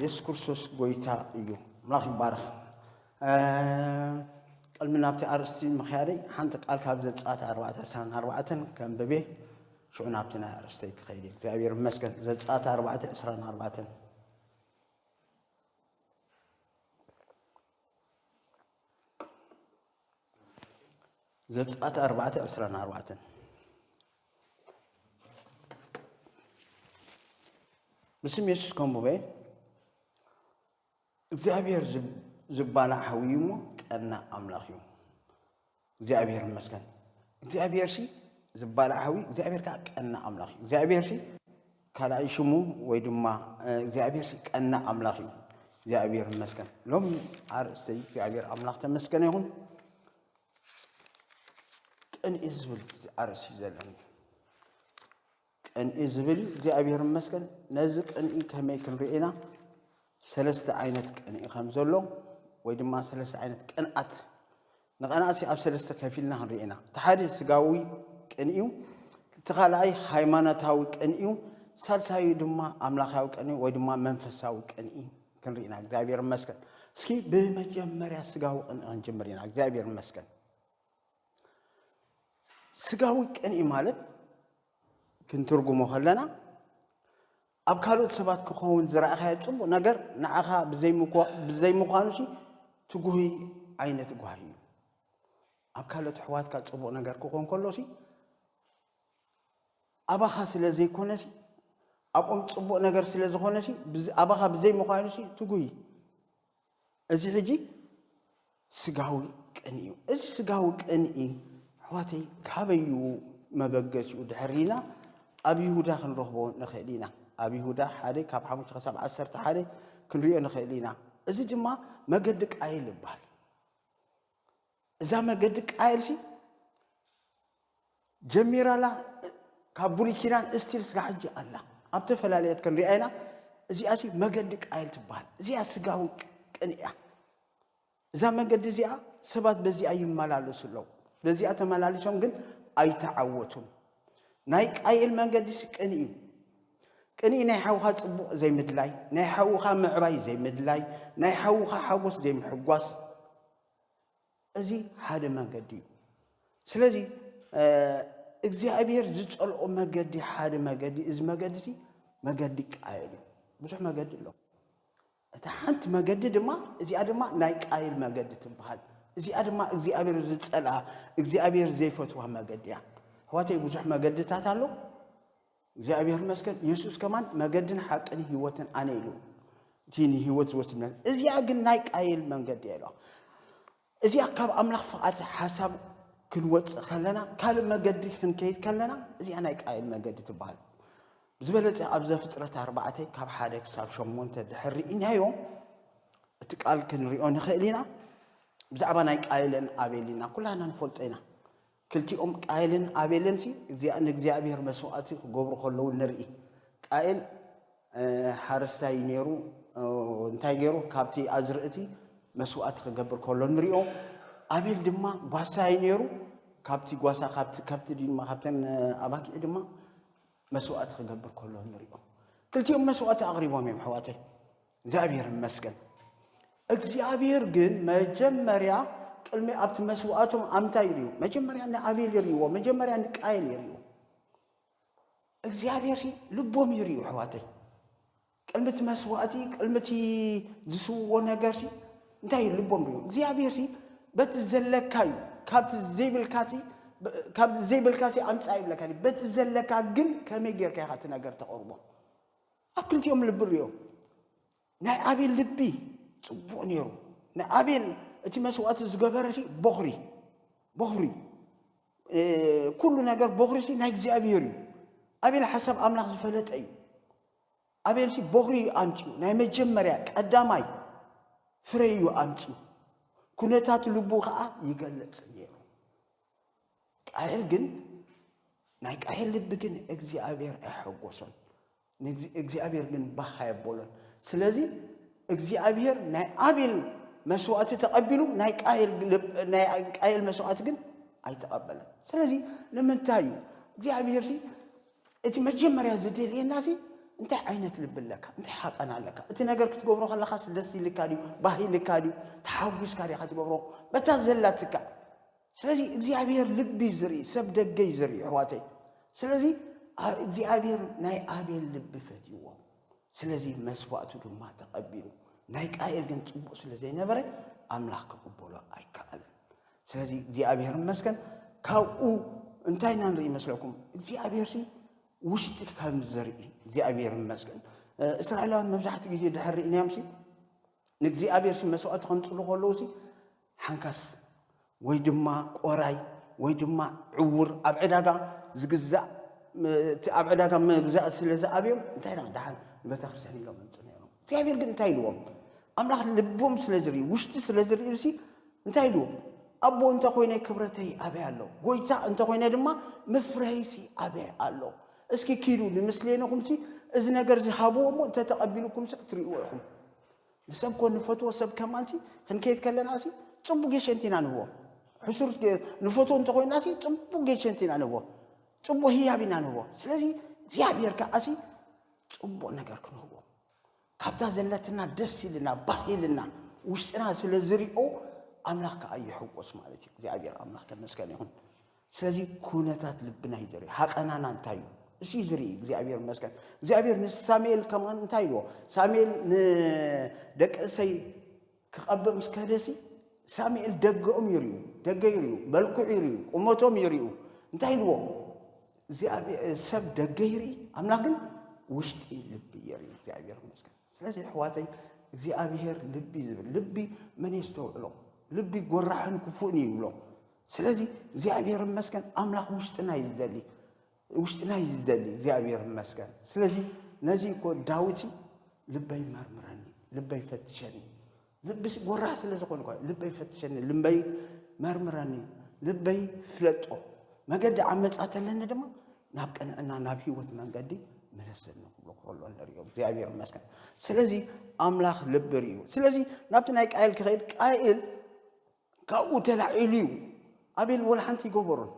የሱስ ክርስቶስ ጎይታ እዩ ኣምላኽ ይባረኽ ቅድሚ ናብቲ ኣርእስቲ ምክያደይ ሓንቲ ቃል ካብ ዘፃት ኣርባዕተ ዕስራን ኣርባዕተን ከንብቤ ሽዑ ናብቲ ናይ ኣርእስተይ ክኸይድ እዩ እግዚኣብሔር ይመስገን ዘፃት ኣርባዕተ ዕስራን ኣርባዕተን ዘጽኣት ኣርባዕተ ዕስራን ኣርባዕተን ብስም የሱስ ከምቡበ እግዚኣብሔር ዝባላዕ ሓዊ እዩ እሞ ቀና ኣምላኽ እዩ እግዚኣብሔር ይመስገን እግዚኣብሔር ሲ ዝባላዕ ሓዊ እግዚኣብሔር ከዓ ቀና ኣምላኽ እዩ እግዚኣብሔር ሲ ካልኣይ ሽሙ ወይ ድማ እግዚኣብሔር ሲ ቀና ኣምላኽ እዩ እግዚኣብሔር ይመስገን ሎሚ ኣርእስተይ እግዚኣብሔር ኣምላኽ ተመስገነ ይኹን ቅንኢ ዝብል ኣርእስቲ ዘለኒ ቅንኢ ዝብል እዩ እግዚኣብሔር ይመስገን ነዚ ቅንኢ ከመይ ክንርኢ ኢና ሰለስተ ዓይነት ቅንኢ ከም ዘሎ ወይ ድማ ሰለስተ ዓይነት ቅንኣት ንቐናእሲ ኣብ ሰለስተ ከፊልና ክንርኢ ኢና እቲ ሓደ ስጋዊ ቅንኢ እዩ እቲ ካልኣይ ሃይማኖታዊ ቅንኢ እዩ ሳልሳዩ ድማ ኣምላኻዊ ቅንኢ ወይ ድማ መንፈሳዊ ቅንኢ ክንርኢ ኢና እግዚኣብሔር ይመስገን እስኪ ብመጀመርያ ስጋዊ ቅንኢ ክንጅምር ኢና እግዚኣብሔር ይመስገን ስጋዊ ቅንኢ ማለት ክንትርጉሞ ከለና ኣብ ካልኦት ሰባት ክኸውን ዝረኣኻዮ ፅቡቕ ነገር ንዓኻ ብዘይምዃኑ ሲ ትጉሂ ዓይነት ጓሂ እዩ ኣብ ካልኦት ኣሕዋትካ ፅቡቕ ነገር ክኾን ከሎ ሲ ኣባኻ ስለ ዘይኮነ ሲ ኣብኦም ፅቡቕ ነገር ስለ ዝኾነ ሲ ኣባኻ ብዘይምዃኑ ሲ ትጉሂ እዚ ሕጂ ስጋዊ ቅንኢ እዩ። እዚ ስጋዊ ቅንኢ ኣሕዋተይ ካበይ እዩ መበገሲኡ ድሕሪና ኣብ ይሁዳ ክንረኽቦ ንኽእል ኢና። ኣብ ይሁዳ ሓደ ካብ ሓሙሽተ ክሳብ ዓሰርተ ሓደ ክንሪኦ ንኽእል ኢና። እዚ ድማ መገዲ ቃየል ይበሃል። እዛ መገዲ ቃየልሲ ጀሚራላ ካብ ብሉይ ኪዳን እስቲል ስጋ ሕጂ ኣላ ኣብ ተፈላለየት ክንሪኣ ኢና እዚኣ ሲ መገዲ ቃየል ትበሃል እዚኣ ስጋዊ ቅን እያ እዛ መገዲ እዚኣ ሰባት በዚኣ ይመላለሱ ኣለዉ በዚኣ ተመላሊሶም ግን ኣይተዓወቱን ናይ ቃየል መንገዲስ ቅን እዩ ቅን ናይ ሓውኻ ፅቡቕ ዘይምድላይ ናይ ሓውኻ ምዕባይ ዘይምድላይ ናይ ሓውኻ ሓጎስ ዘይምሕጓስ እዚ ሓደ መገዲ እዩ ስለዚ እግዚኣብሔር ዝጸልኦ መገዲ ሓደ መገዲ እዚ መገዲ እዚ መገዲ ቃየል እዩ ብዙሕ መገዲ ኣሎ እታ ሓንቲ መገዲ ድማ እዚኣ ድማ ናይ ቃየል መገዲ ትበሃል እዚኣ ድማ እግዚኣብሔር ዝጸልኣ እግዚኣብሔር ዘይፈትዋ መገዲ እያ ኣሕዋተይ ብዙሕ መገድታት ኣሎ እግዚኣብሔር ይመስገን የሱስ ከማን መገድን ሓቅን ህይወትን ኣነ ኢሉ እቲ ንህይወት ዝወስድ እዚኣ ግን ናይ ቃይል መንገዲ ኢሎ እዚኣ ካብ ኣምላኽ ፍቓድ ሓሳብ ክንወፅእ ከለና ካልእ መገዲ ክንከይድ ከለና እዚኣ ናይ ቃይል መገዲ ትበሃል ብዝበለፀ ኣብ ዘፍጥረት ኣርባዕተ ካብ ሓደ ክሳብ ሸሞንተ ድሕር ርኢናዮ እቲ ቃል ክንሪኦ ንኽእል ኢና ብዛዕባ ናይ ቃይልን ኣቤል ኢና ኩላና ንፈልጦ ኢና ክልቲኦም ቃየልን ኣቤልንሲ ንእግዚኣብሄር መስዋእቲ ክገብሩ ከለዉ ንርኢ። ቃየል ሓረስታይ እዩ ነይሩ። እንታይ ገይሩ? ካብቲ ኣዝርእቲ መስዋእቲ ክገብር ከሎ ንሪኦ። ኣቤል ድማ ጓሳ እዩ ነይሩ። ካብቲ ጓሳ ካብቲ ከብቲ ድማ ካብተን ኣባጊዕ ድማ መስዋእቲ ክገብር ከሎ ንሪኦ። ክልቲኦም መስዋእቲ ኣቕሪቦም እዮም ኣሕዋተይ። እግዚኣብሔር ይመስገን። እግዚኣብሔር ግን መጀመርያ ቅድሚ ኣብቲ መስዋእቶም ኣምታይ ይርዩ መጀመርያ ንኣቤል ይርይዎ መጀመርያ ንቃየል ይርዩ እግዚኣብሔር ልቦም ይርዩ ኣሕዋተይ ቅድሚ እቲ መስዋእቲ ቅድሚ እቲ ዝስውዎ ነገር እንታይ እዩ ልቦም ርዩ እግዚኣብሔር በቲ ዘለካ እዩ ካብቲ ዘይብልካ ካብ ዘይብልካ ኣምፃእ ይብለካ በቲ ዘለካ ግን ከመይ ጌርካ ኢኻ እቲ ነገር ተቕርቦ ኣብ ክልቲኦም ልቢ ርእዮ። ናይ ኣቤል ልቢ ጽቡቕ ነይሩ። ንኣቤል እቲ መስዋእቲ ዝገበረ ቦኽሪ ቦኽሪ ኩሉ ነገር ቦኽሪ ሲ ናይ እግዚኣብሔር እዩ። ኣቤል ሓሳብ ኣምላኽ ዝፈለጠ እዩ። ኣቤል ሲ ቦኽሪ እዩ ኣምፅኡ ናይ መጀመርያ ቀዳማይ ፍረ እዩ ኣምፅኡ። ኩነታት ልቡ ከዓ ይገልፅ ነይሩ። ቃየል ግን ናይ ቃየል ልቢ ግን እግዚኣብሔር ኣይሐጎሶን እግዚኣብሔር ግን ባህ ኣየቦሎን ስለዚ እግዚኣብሔር ናይ ኣቤል መስዋእቲ ተቐቢሉ ናይ ቃየል መስዋእቲ ግን ኣይተቐበለን ስለዚ ንምንታይ እዩ እግዚኣብሔር ሲ እቲ መጀመርያ ዝደልየና ሲ እንታይ ዓይነት ልቢ ኣለካ እንታይ ሓቀና ኣለካ እቲ ነገር ክትገብሮ ከለካ ደስ ኢልካ ድዩ ባህ ኢልካ ድዩ ተሓጒስካ ዲካ ትገብሮ በታ ዘላትካ ስለዚ እግዚኣብሔር ልቢ እዩ ዝርኢ ሰብ ደገ እዩ ዝርኢ ኣሕዋተይ ስለዚ እግዚኣብሔር ናይ ኣቤል ልቢ ፈትይዎ ስለዚ መስዋእቱ ድማ ተቐቢሉ ናይ ቃኤል ግን ፅቡቅ ስለ ዘይነበረ ኣምላኽ ክቕበሎ ኣይከኣልን ስለዚ እግዚኣብሔር መስገን ካብኡ እንታይ ኢና ንርኢ መስለኩም እግዚኣብሔር ውሽጢ ከም ዝርኢ እግዚኣብሔር መስገን እስራኤላውያን መብዛሕትኡ ግዜ ድሕር ርእናዮም ንእግዚኣብሔር መስዋእቲ ከምፅሉ ከለዉ ሓንካስ ወይ ድማ ቆራይ ወይ ድማ ዕዉር ኣብ ዕዳጋ ዝግዛእ እቲ ኣብ ዕዳጋ ምግዛእ ስለ ዝኣብዮም እንታይ ዳ ደሓን ንቤተክርስትያን ኢሎም ምንጹ ነይሮም እግዚኣብሔር ግን እንታይ ኢልዎም ኣምላኽ ልቦም ስለ ዝርኢ ውሽጢ ስለ ዝርእሲ እንታይ ኢልዎ ኣቦ እንተኮይነ ክብረተይ ኣበይ ኣሎ ጎይታ እንተኮይነ ድማ መፍረይሲ ኣበይ ኣሎ እስኪ ኪዱ ንምስሌንኹምሲ እዚ ነገር ዝሃብዎ እሞ እንተተቐቢልኩምሲ ክትርእይዎ ኢኹም ንሰብ እኮ ንፈትዎ ሰብ ከማንሲ ክንከይድ ከለና ሲ ጽቡቅ ጌሸንቲ ኢና ንህቦ ሕሱር ንፈትዎ እንተኮይና ሲ ጽቡቅ ጌሸንቲ ኢና ንህቦ ጽቡቅ ህያብ ኢና ንህቦ ስለዚ እግዚኣብሔር ከዓ ሲ ጽቡቅ ነገር ክንህቦ ካብታ ዘለትና ደስ ኢልና ባህ ኢልና ውሽጥና ስለ ዝሪኦ ኣምላኽ ከዓ ይሕጎስ ማለት እዩ እግዚኣብሔር ኣምላኽ ተመስገን ይኹን ስለዚ ኩነታት ልብና እዩ ዝርኢ ሃቀናና እንታይ እዩ እሱ እዩ ዝርኢ እግዚኣብሔር ይመስገን እግዚኣብሔር ንሳሙኤል ከማን እንታይ ኢልዎ ሳሙኤል ንደቂ እሰይ ክቐብእ ምስ ከደሲ ሳሙኤል ደገኦም ይርዩ ደገ ይርዩ መልክዑ ይርዩ ቁመቶም ይርዩ እንታይ ኢልዎ ሰብ ደገ ይርኢ ኣምላክ ግን ውሽጢ ልቢ ይርኢ እግዚኣብሔር ይመስገን ስለዚ ኣሕዋተይ እግዚኣብሔር ልቢ ዝብል ልቢ መን የስተውዕሎ ልቢ ጎራሕን ክፉእን ይብሎ ስለዚ እግዚኣብሔር ይመስገን ኣምላኽ ውሽጥና እዩ ዝደሊ ውሽጥና እዩ ዝደሊ እግዚኣብሔር ይመስገን ስለዚ ነዚ እኮ ዳዊት ልበይ መርምረኒ ልበይ ፈትሸኒ ልብስ ጎራህ ስለ ዝኾኑ ልበይ ፈትሸኒ ልበይ መርምረኒ ልበይ ፍለጦ መገዲ ዓመፃ ተለኒ ድማ ናብ ቅንዕና ናብ ህይወት መንገዲ መለሰኒ ክብሎ ከሎ ንሪኦ እግዚኣብሔር ይመስገን ስለዚ ኣምላኽ ልቢ ርእዩ ስለዚ ናብቲ ናይ ቃይል ክኸይድ ቃይል ካብኡ ተላዒሉ እዩ ኣቤል ወላ ሓንቲ ይገበሮን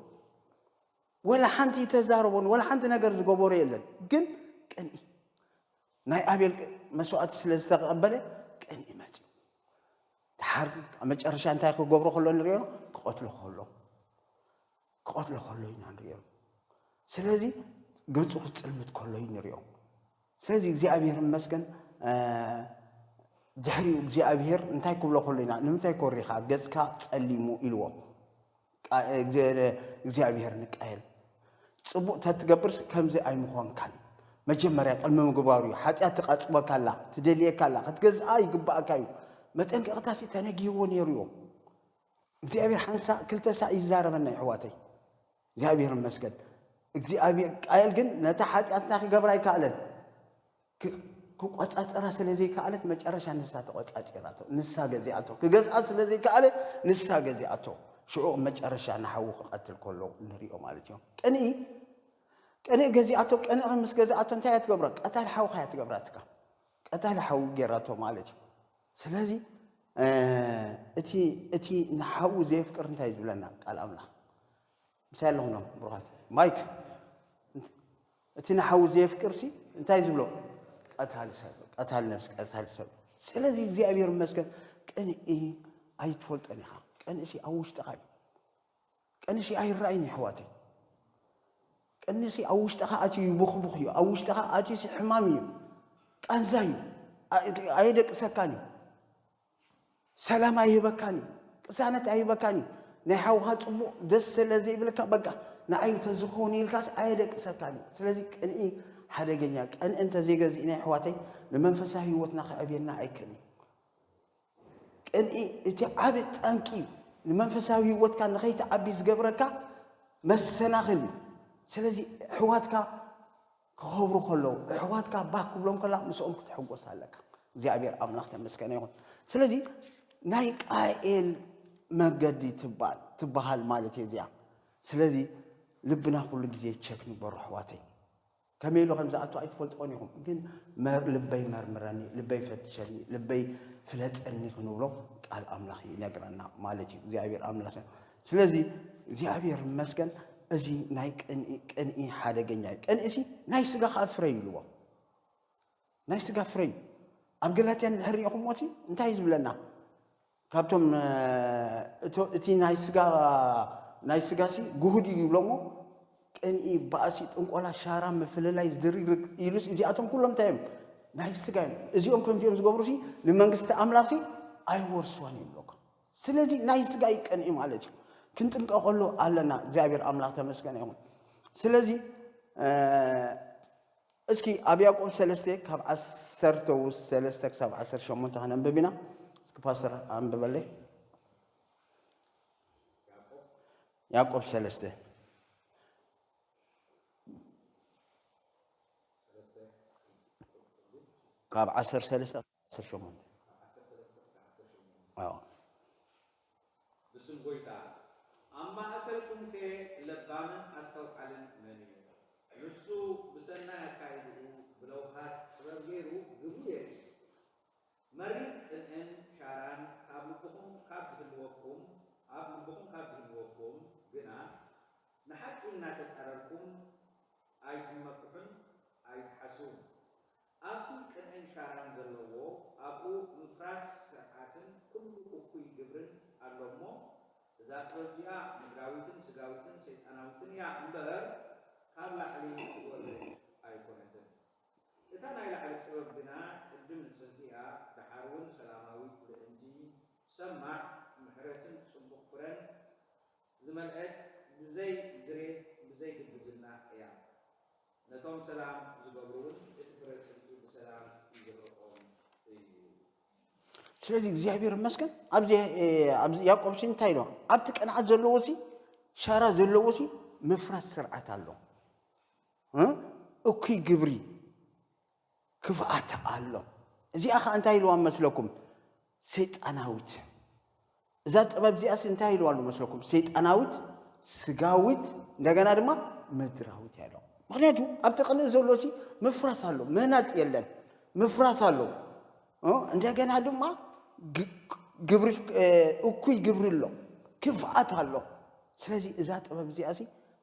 ወላ ሓንቲ ይተዛረቦን ወላ ሓንቲ ነገር ዝገበሮ የለን ግን ቅንኢ ናይ ኣቤል መስዋእቲ ስለ ዝተቐበለ ቅንኢ መፅኡ ድሓር ኣብ መጨረሻ እንታይ ክገብሮ ከሎ ንሪኦ ክቐትሎ ከሎ ክቐትሎ ከሎ ኢና ንሪኦ። ስለዚ ገጹ ክጽልምት ከሎ እዩ ንሪኦ። ስለዚ እግዚኣብሔር ይመስገን ድሕሪኡ እግዚኣብሔር እንታይ ክብሎ ከሎ ኢና ንምንታይ ኮሪኻ ገጽካ ጸሊሙ ኢልዎ እግዚኣብሔር ንቃየል ጽቡቕ ተትገብርስ ከምዚ ኣይምኾንካን መጀመርያ ቅድሚ ምግባሩ እዩ ሓጢኣት ትቐፅበካ ኣላ ትደልየካ ኣላ ክትገዝኣ ይግባእካ እዩ መጠንቀቕታሲ ተነጊህዎ ነይሩ እዮም እግዚኣብሔር ሓንሳእ ክልተ ሳዕ ይዛረበና ይሕዋተይ እግዚኣብሔር ይመስገን እግዚኣብሔር ቃየል ግን ነታ ሓጢኣትና ክገብራ ኣይከኣለን ክቆፃፀራ ስለ ዘይከኣለት መጨረሻ ንሳ ተቆፃፂራቶ ንሳ ገዚኣቶ ክገዝኣ ስለ ዘይከኣለ ንሳ ገዚኣቶ ሽዑ መጨረሻ ንሓዉ ክቐትል ከሎ ንሪኦ ማለት እዮም ቅንኢ ቅንኢ ገዚኣቶ ቅንኢ ምስ ገዛኣቶ እንታይ እያ ትገብሮ ቀታሊ ሓውካ እያ ትገብራትካ ቀታሊ ሓዊ ገይራቶ ማለት እዩ ስለዚ እቲ እቲ ንሓዉ ዘየፍቅር እንታይ እዩ ዝብለና ቃል ኣምላኽ ምሳይ ኣለኹም ዶ ብሩኻት ማይክ እቲ ንሓዉ ዘየፍቅር ሲ እንታይ እዩ ዝብሎ ቀታሊ ሰብ ቀታሊ ነብሲ ቀታሊ ሰብ ስለዚ እግዚኣብሔር ይመስገን ቅንኢ ኣይትፈልጦን ኢኻ ቅንእሲ ኣብ ውሽጥኻ እዩ ቀንሲ ኣይራእይን የሕዋተይ ቀንሲ ኣብ ውሽጥኻ ኣትዩ ይቦኽቡኽ እዩ ኣብ ውሽጥኻ ኣትዩ ሲ ሕማም እዩ ቃንዛ እዩ ኣየደቅሰካን እዩ ሰላም ኣይህበካን እዩ ቅሳነት ኣይህበካን እዩ ናይ ሓውኻ ፅቡቕ ደስ ስለ ዘይብልካ በቃ ንዓይ ተዝኾውን ኢልካስ ኣየደቅሰካን እዩ ስለዚ ቅንኢ ሓደገኛ ቀንኢ እንተዘይገዚእና ኣሕዋተይ ንመንፈሳዊ ህይወትና ክዕብየና ኣይከን እዩ ቅንኢ እቲ ዓቢ ጠንቂ ንመንፈሳዊ ህይወትካ ንኸይትዓቢ ዝገብረካ መሰናኽል እዩ። ስለዚ እሕዋትካ ክኸብሩ ከለዉ፣ እሕዋትካ ባህ ክብሎም ከላ ምስኦም ክትሕጎስ ኣለካ። እግዚኣብሔር ኣምላኽ ተመስገነ ይኹን። ስለዚ ናይ ቃኤል መገዲ ትባል ትባሃል ማለት እየ እዚኣ። ስለዚ ልብና ኩሉ ግዜ ቸክ ንግበሮ ኣሕዋተይ። ከመይ ኢሉ ከም ዝኣቱ ኣይትፈልጥዎን ኢኹም፣ ግን ልበይ መርምረኒ፣ ልበይ ፈትሸኒ፣ ልበይ ፍለጠኒ ክንብሎ ቃል ኣምላኽ ይነግረና ማለት እዩ። እግዚኣብሔር ኣምላኽ ስለዚ እግዚኣብሔር ይመስገን እዚ ናይ ቅንኢ ሓደገኛ እዩ። ቅንኢሲ ናይ ስጋ ከዓ ፍረ ይብልዎ። ናይ ስጋ ፍረይ ኣብ ገላትያ እንድሕር ሪኢኹምዎ እቲ እንታይ እዩ ዝብለና ካብቶም እቲ ናይ ስጋ ናይ ስጋሲ ጉሁድ እዩ ይብሎሞ ቅንኢ ባእሲ ጥንቆላ ሻራ ምፍልላይ ዝርግርግ ኢሉስ እዚኣቶም ኩሎም እንታይ እዮም ናይ ስጋ እዮም እዚኦም ከምዚኦም ዝገብሩ ሲ ንመንግስቲ ኣምላኽ ሲ ኣይወርስዋን እዩ ብሎካ ስለዚ ናይ ስጋ እዩ ቅንኢ ማለት እዩ ክንጥንቀቐሉ ኣለና እግዚኣብሔር ኣምላኽ ተመስገነ ይኹን ስለዚ እስኪ ኣብ ያእቆብ ሰለስተ ካብ ዓሰርተ ሰለስተ ክሳብ ዓሰርተ ሸሞንተ ከነንብብ ኢና እስኪ ፓስተር ኣንብበለይ ያዕቆብ ሰለስተ ካብ ዓሰርተ ሰለስተ ዓሰርተ ሸሞንተ ዓሰርተ ሰለስተ እስከ ዓሰርተ ሸሞንተ ኣዎ። ብስም ጐይታ፣ ኣብ ማእከልኩምከ ለባምን ኣስተውዓልን መን እዩ? ንሱ ብሰናይ ኣካይዳኡ ብለውሃት ጥበብ ገይሩ ግብሩ የርኢ። መሪር ቅንእን ሻራን ካብ ልብኹም ካብ ዝህልወኩም ኣብ ልብኹም ካብ ዝህልወኩም ግና፣ ንሓቂ እናተጻረርኩም ኣይትመክሑን ኣይትሓስዉን። ኣብቲ ቅንዕን ሻራን ዘለዎ ኣብኡ ምፍራስ ስርዓትን ኩሉ እኩይ ግብርን ኣሎ እሞ እዛ ጥበብ እዚኣ ምድራዊትን ስጋዊትን ሰይጣናዊትን እያ እምበህር ካብ ላዕሊ ትወርድ ኣይኮነትን እታ ናይ ላዕሊ ጥበብ ግና ቅድም ንጽልኢ እያ ደሓር እውን ሰላማዊት ልእንቲ ሰማዕ ምሕረትን ጽቡቅ ፍረን ዝመልእት ብዘይ ዝሬት ብዘይ ግብዝና እያ ነቶም ሰላም ዝገብሩ ውን እቲ ፍረ ጽንቱ ብሰላም ይዝርቆም እዩ። ስለዚ እግዚኣብሔር ይመስገን ኣብዚ ኣብዚ ያዕቆብ ሲ እንታይ ኢሎ ኣብቲ ቅንዓት ዘለዎ ሲ ሻራ ዘለዎ ሲ ምፍራስ ስርዓት ኣሎ እ እኩይ ግብሪ ክፍኣት ኣሎ እዚኣ ከኣ እንታይ ኢልዋ መስለኩም ሰይጣናዊት እዛ ጥበብ እዚኣስ እንታይ ኢልዋ ኣሎ መስለኩም ሰይጣናዊት ስጋዊት እንደገና ድማ ምድራዊት እያ ኢሎም ምክንያቱ ኣብቲ ቅልእ ዘሎ ሲ ምፍራስ ኣሎ ምህናፅ የለን ምፍራስ ኣሎ እንደገና ድማ ግብሪ እኩይ ግብሪ ኣሎ ክፍኣት ኣሎ ስለዚ እዛ ጥበብ እዚኣ ሲ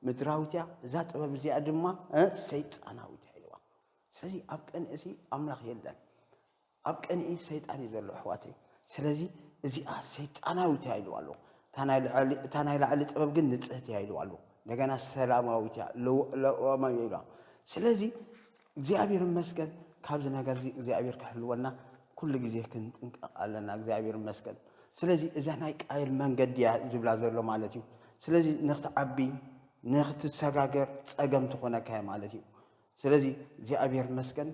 ምድራዊት እያ እዛ ጥበብ እዚኣ ድማ ሰይጣናዊት እያ ኢልዋ ስለዚ ኣብ ቅንኢ ሲ ኣምላኽ የለን ኣብ ቅንኢ ሰይጣን እዩ ዘሎ ኣሕዋተይ ስለዚ እዚኣ ሰይጣናዊት እያ ኢልዋ ኣለኹ እታ ናይ ላዕሊ ጥበብ ግን ንጽህቲ እያ ኢልዋ ኣለኹ እንደገና ሰላማዊት እያ ለዋማዊ እያ ኢልዋ ስለዚ እግዚኣብሔር ይመስገን ካብዚ ነገር እዚ እግዚኣብሔር ክሕልወና ኩሉ ግዜ ክንጥንቀቕ ኣለና እግዚኣብሔር ይመስገን ስለዚ እዛ ናይ ቃየል መንገዲ እያ ዝብላ ዘሎ ማለት እዩ ስለዚ ንክትዓቢ ንክትሰጋገር ፀገም ትኾነካ ማለት እዩ ስለዚ እግዚኣብሔር ይመስገን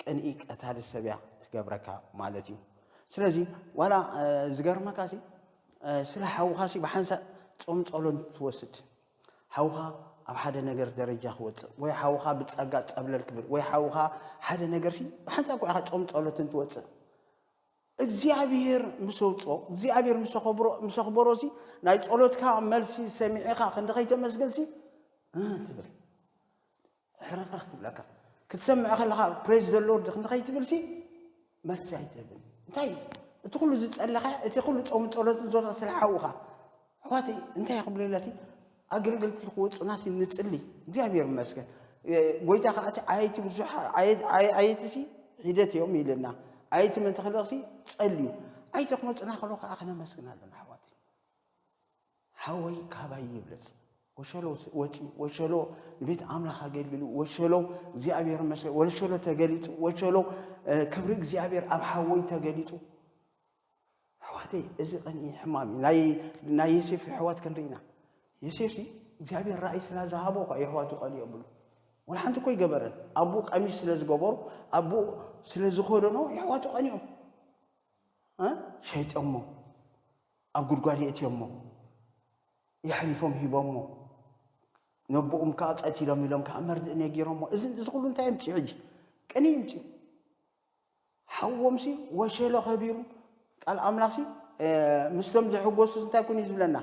ቅንኢ ቀታሊ ሰብ እያ ትገብረካ ማለት እዩ ስለዚ ዋላ ዝገርመካ ሲ ስለ ሓውኻ ሲ ብሓንሳእ ጾም ጸሎን ትወስድ ሓውኻ ኣብ ሓደ ነገር ደረጃ ክወፅእ ወይ ሓውኻ ብፀጋ ፀብለል ክብል ወይ ሓውኻ ሓደ ነገር ሲ ብሓንሳእ እኮ ኢኻ ጾም ጸሎትን ትወፅእ እግዚኣብሔር ምስ ኣውፅኦ እግዚኣብሔር ምስ ኣኸብሮ ምስ ኣኽበሮ ሲ ናይ ጸሎትካ መልሲ ሰሚዕኻ ክንዲ ከይተመስገን ሲ ትብል ሕርኽርኽ ትብለካ ክትሰምዕ ከለኻ ፕሬዝ ዘሎር ድኽ ንኸይትብልሲ መልሲ ኣይትህብን እንታይ እዩ እቲ ኩሉ ዝጸለኻ እቲ ኩሉ ጾም ጸሎትን ዞረ ስለ ሓውኻ ኣሕዋት እንታይ ክብልለቲ ኣገልገልቲ ክወፁናሲ ንጽሊ እግዚኣብሔር ይመስገን ጎይታ ከዓ ኣየቲ ብዙሕ ኣየትሲ ሂደት እዮም ይልና ኣየቲ ምንተ ክልቕሲ ጸልዩ ኣይተ ክመፁና ከሎ ከዓ ክነመስግን ኣለና ኣሕዋት ሓወይ ካባይ ይብለጽ ወሸሎ ወጺኡ ወሸሎ ንቤት ኣምላኽ ኣገልግሉ ወሸሎ እግዚኣብሔር መሰ ወሸሎ ተገሊጹ ወሸሎ ክብሪ እግዚኣብሔር ኣብ ሓወይ ተገሊጹ ኣሕዋተይ እዚ ቀኒ ሕማም እዩ ናይ ዮሴፍ ኣሕዋት ክንርኢና ዮሴፍ ሲ እግዚኣብሔር ራእይ ስላ ዝሃቦ እኳ የሕዋቱ ቀኒ የብሉ ወላ ሓንቲ እኮ ይገበረን ኣቡ ቀሚሽ ስለ ዝገበሩ ኣቡ ስለ ዝኮደኖ የሕዋቱ ቀኒኦም ሸይጦሞ ኣብ ጉድጓድ የእትዮሞ የሕሊፎም ሂቦሞ ነቦኦም ከኣ ቀቲሎም ኢሎም ከኣ መርድእ ነጊሮሞ እዚ እዚ ኩሉ እንታይ የምጽኡ ሕጂ ቅንኢ የምጽኡ ሓዎምሲ ወሸሎ ከቢሩ ቃል ኣምላኽሲ ምስቶም ዘሕጎሱ እንታይ ኩን እዩ ዝብለና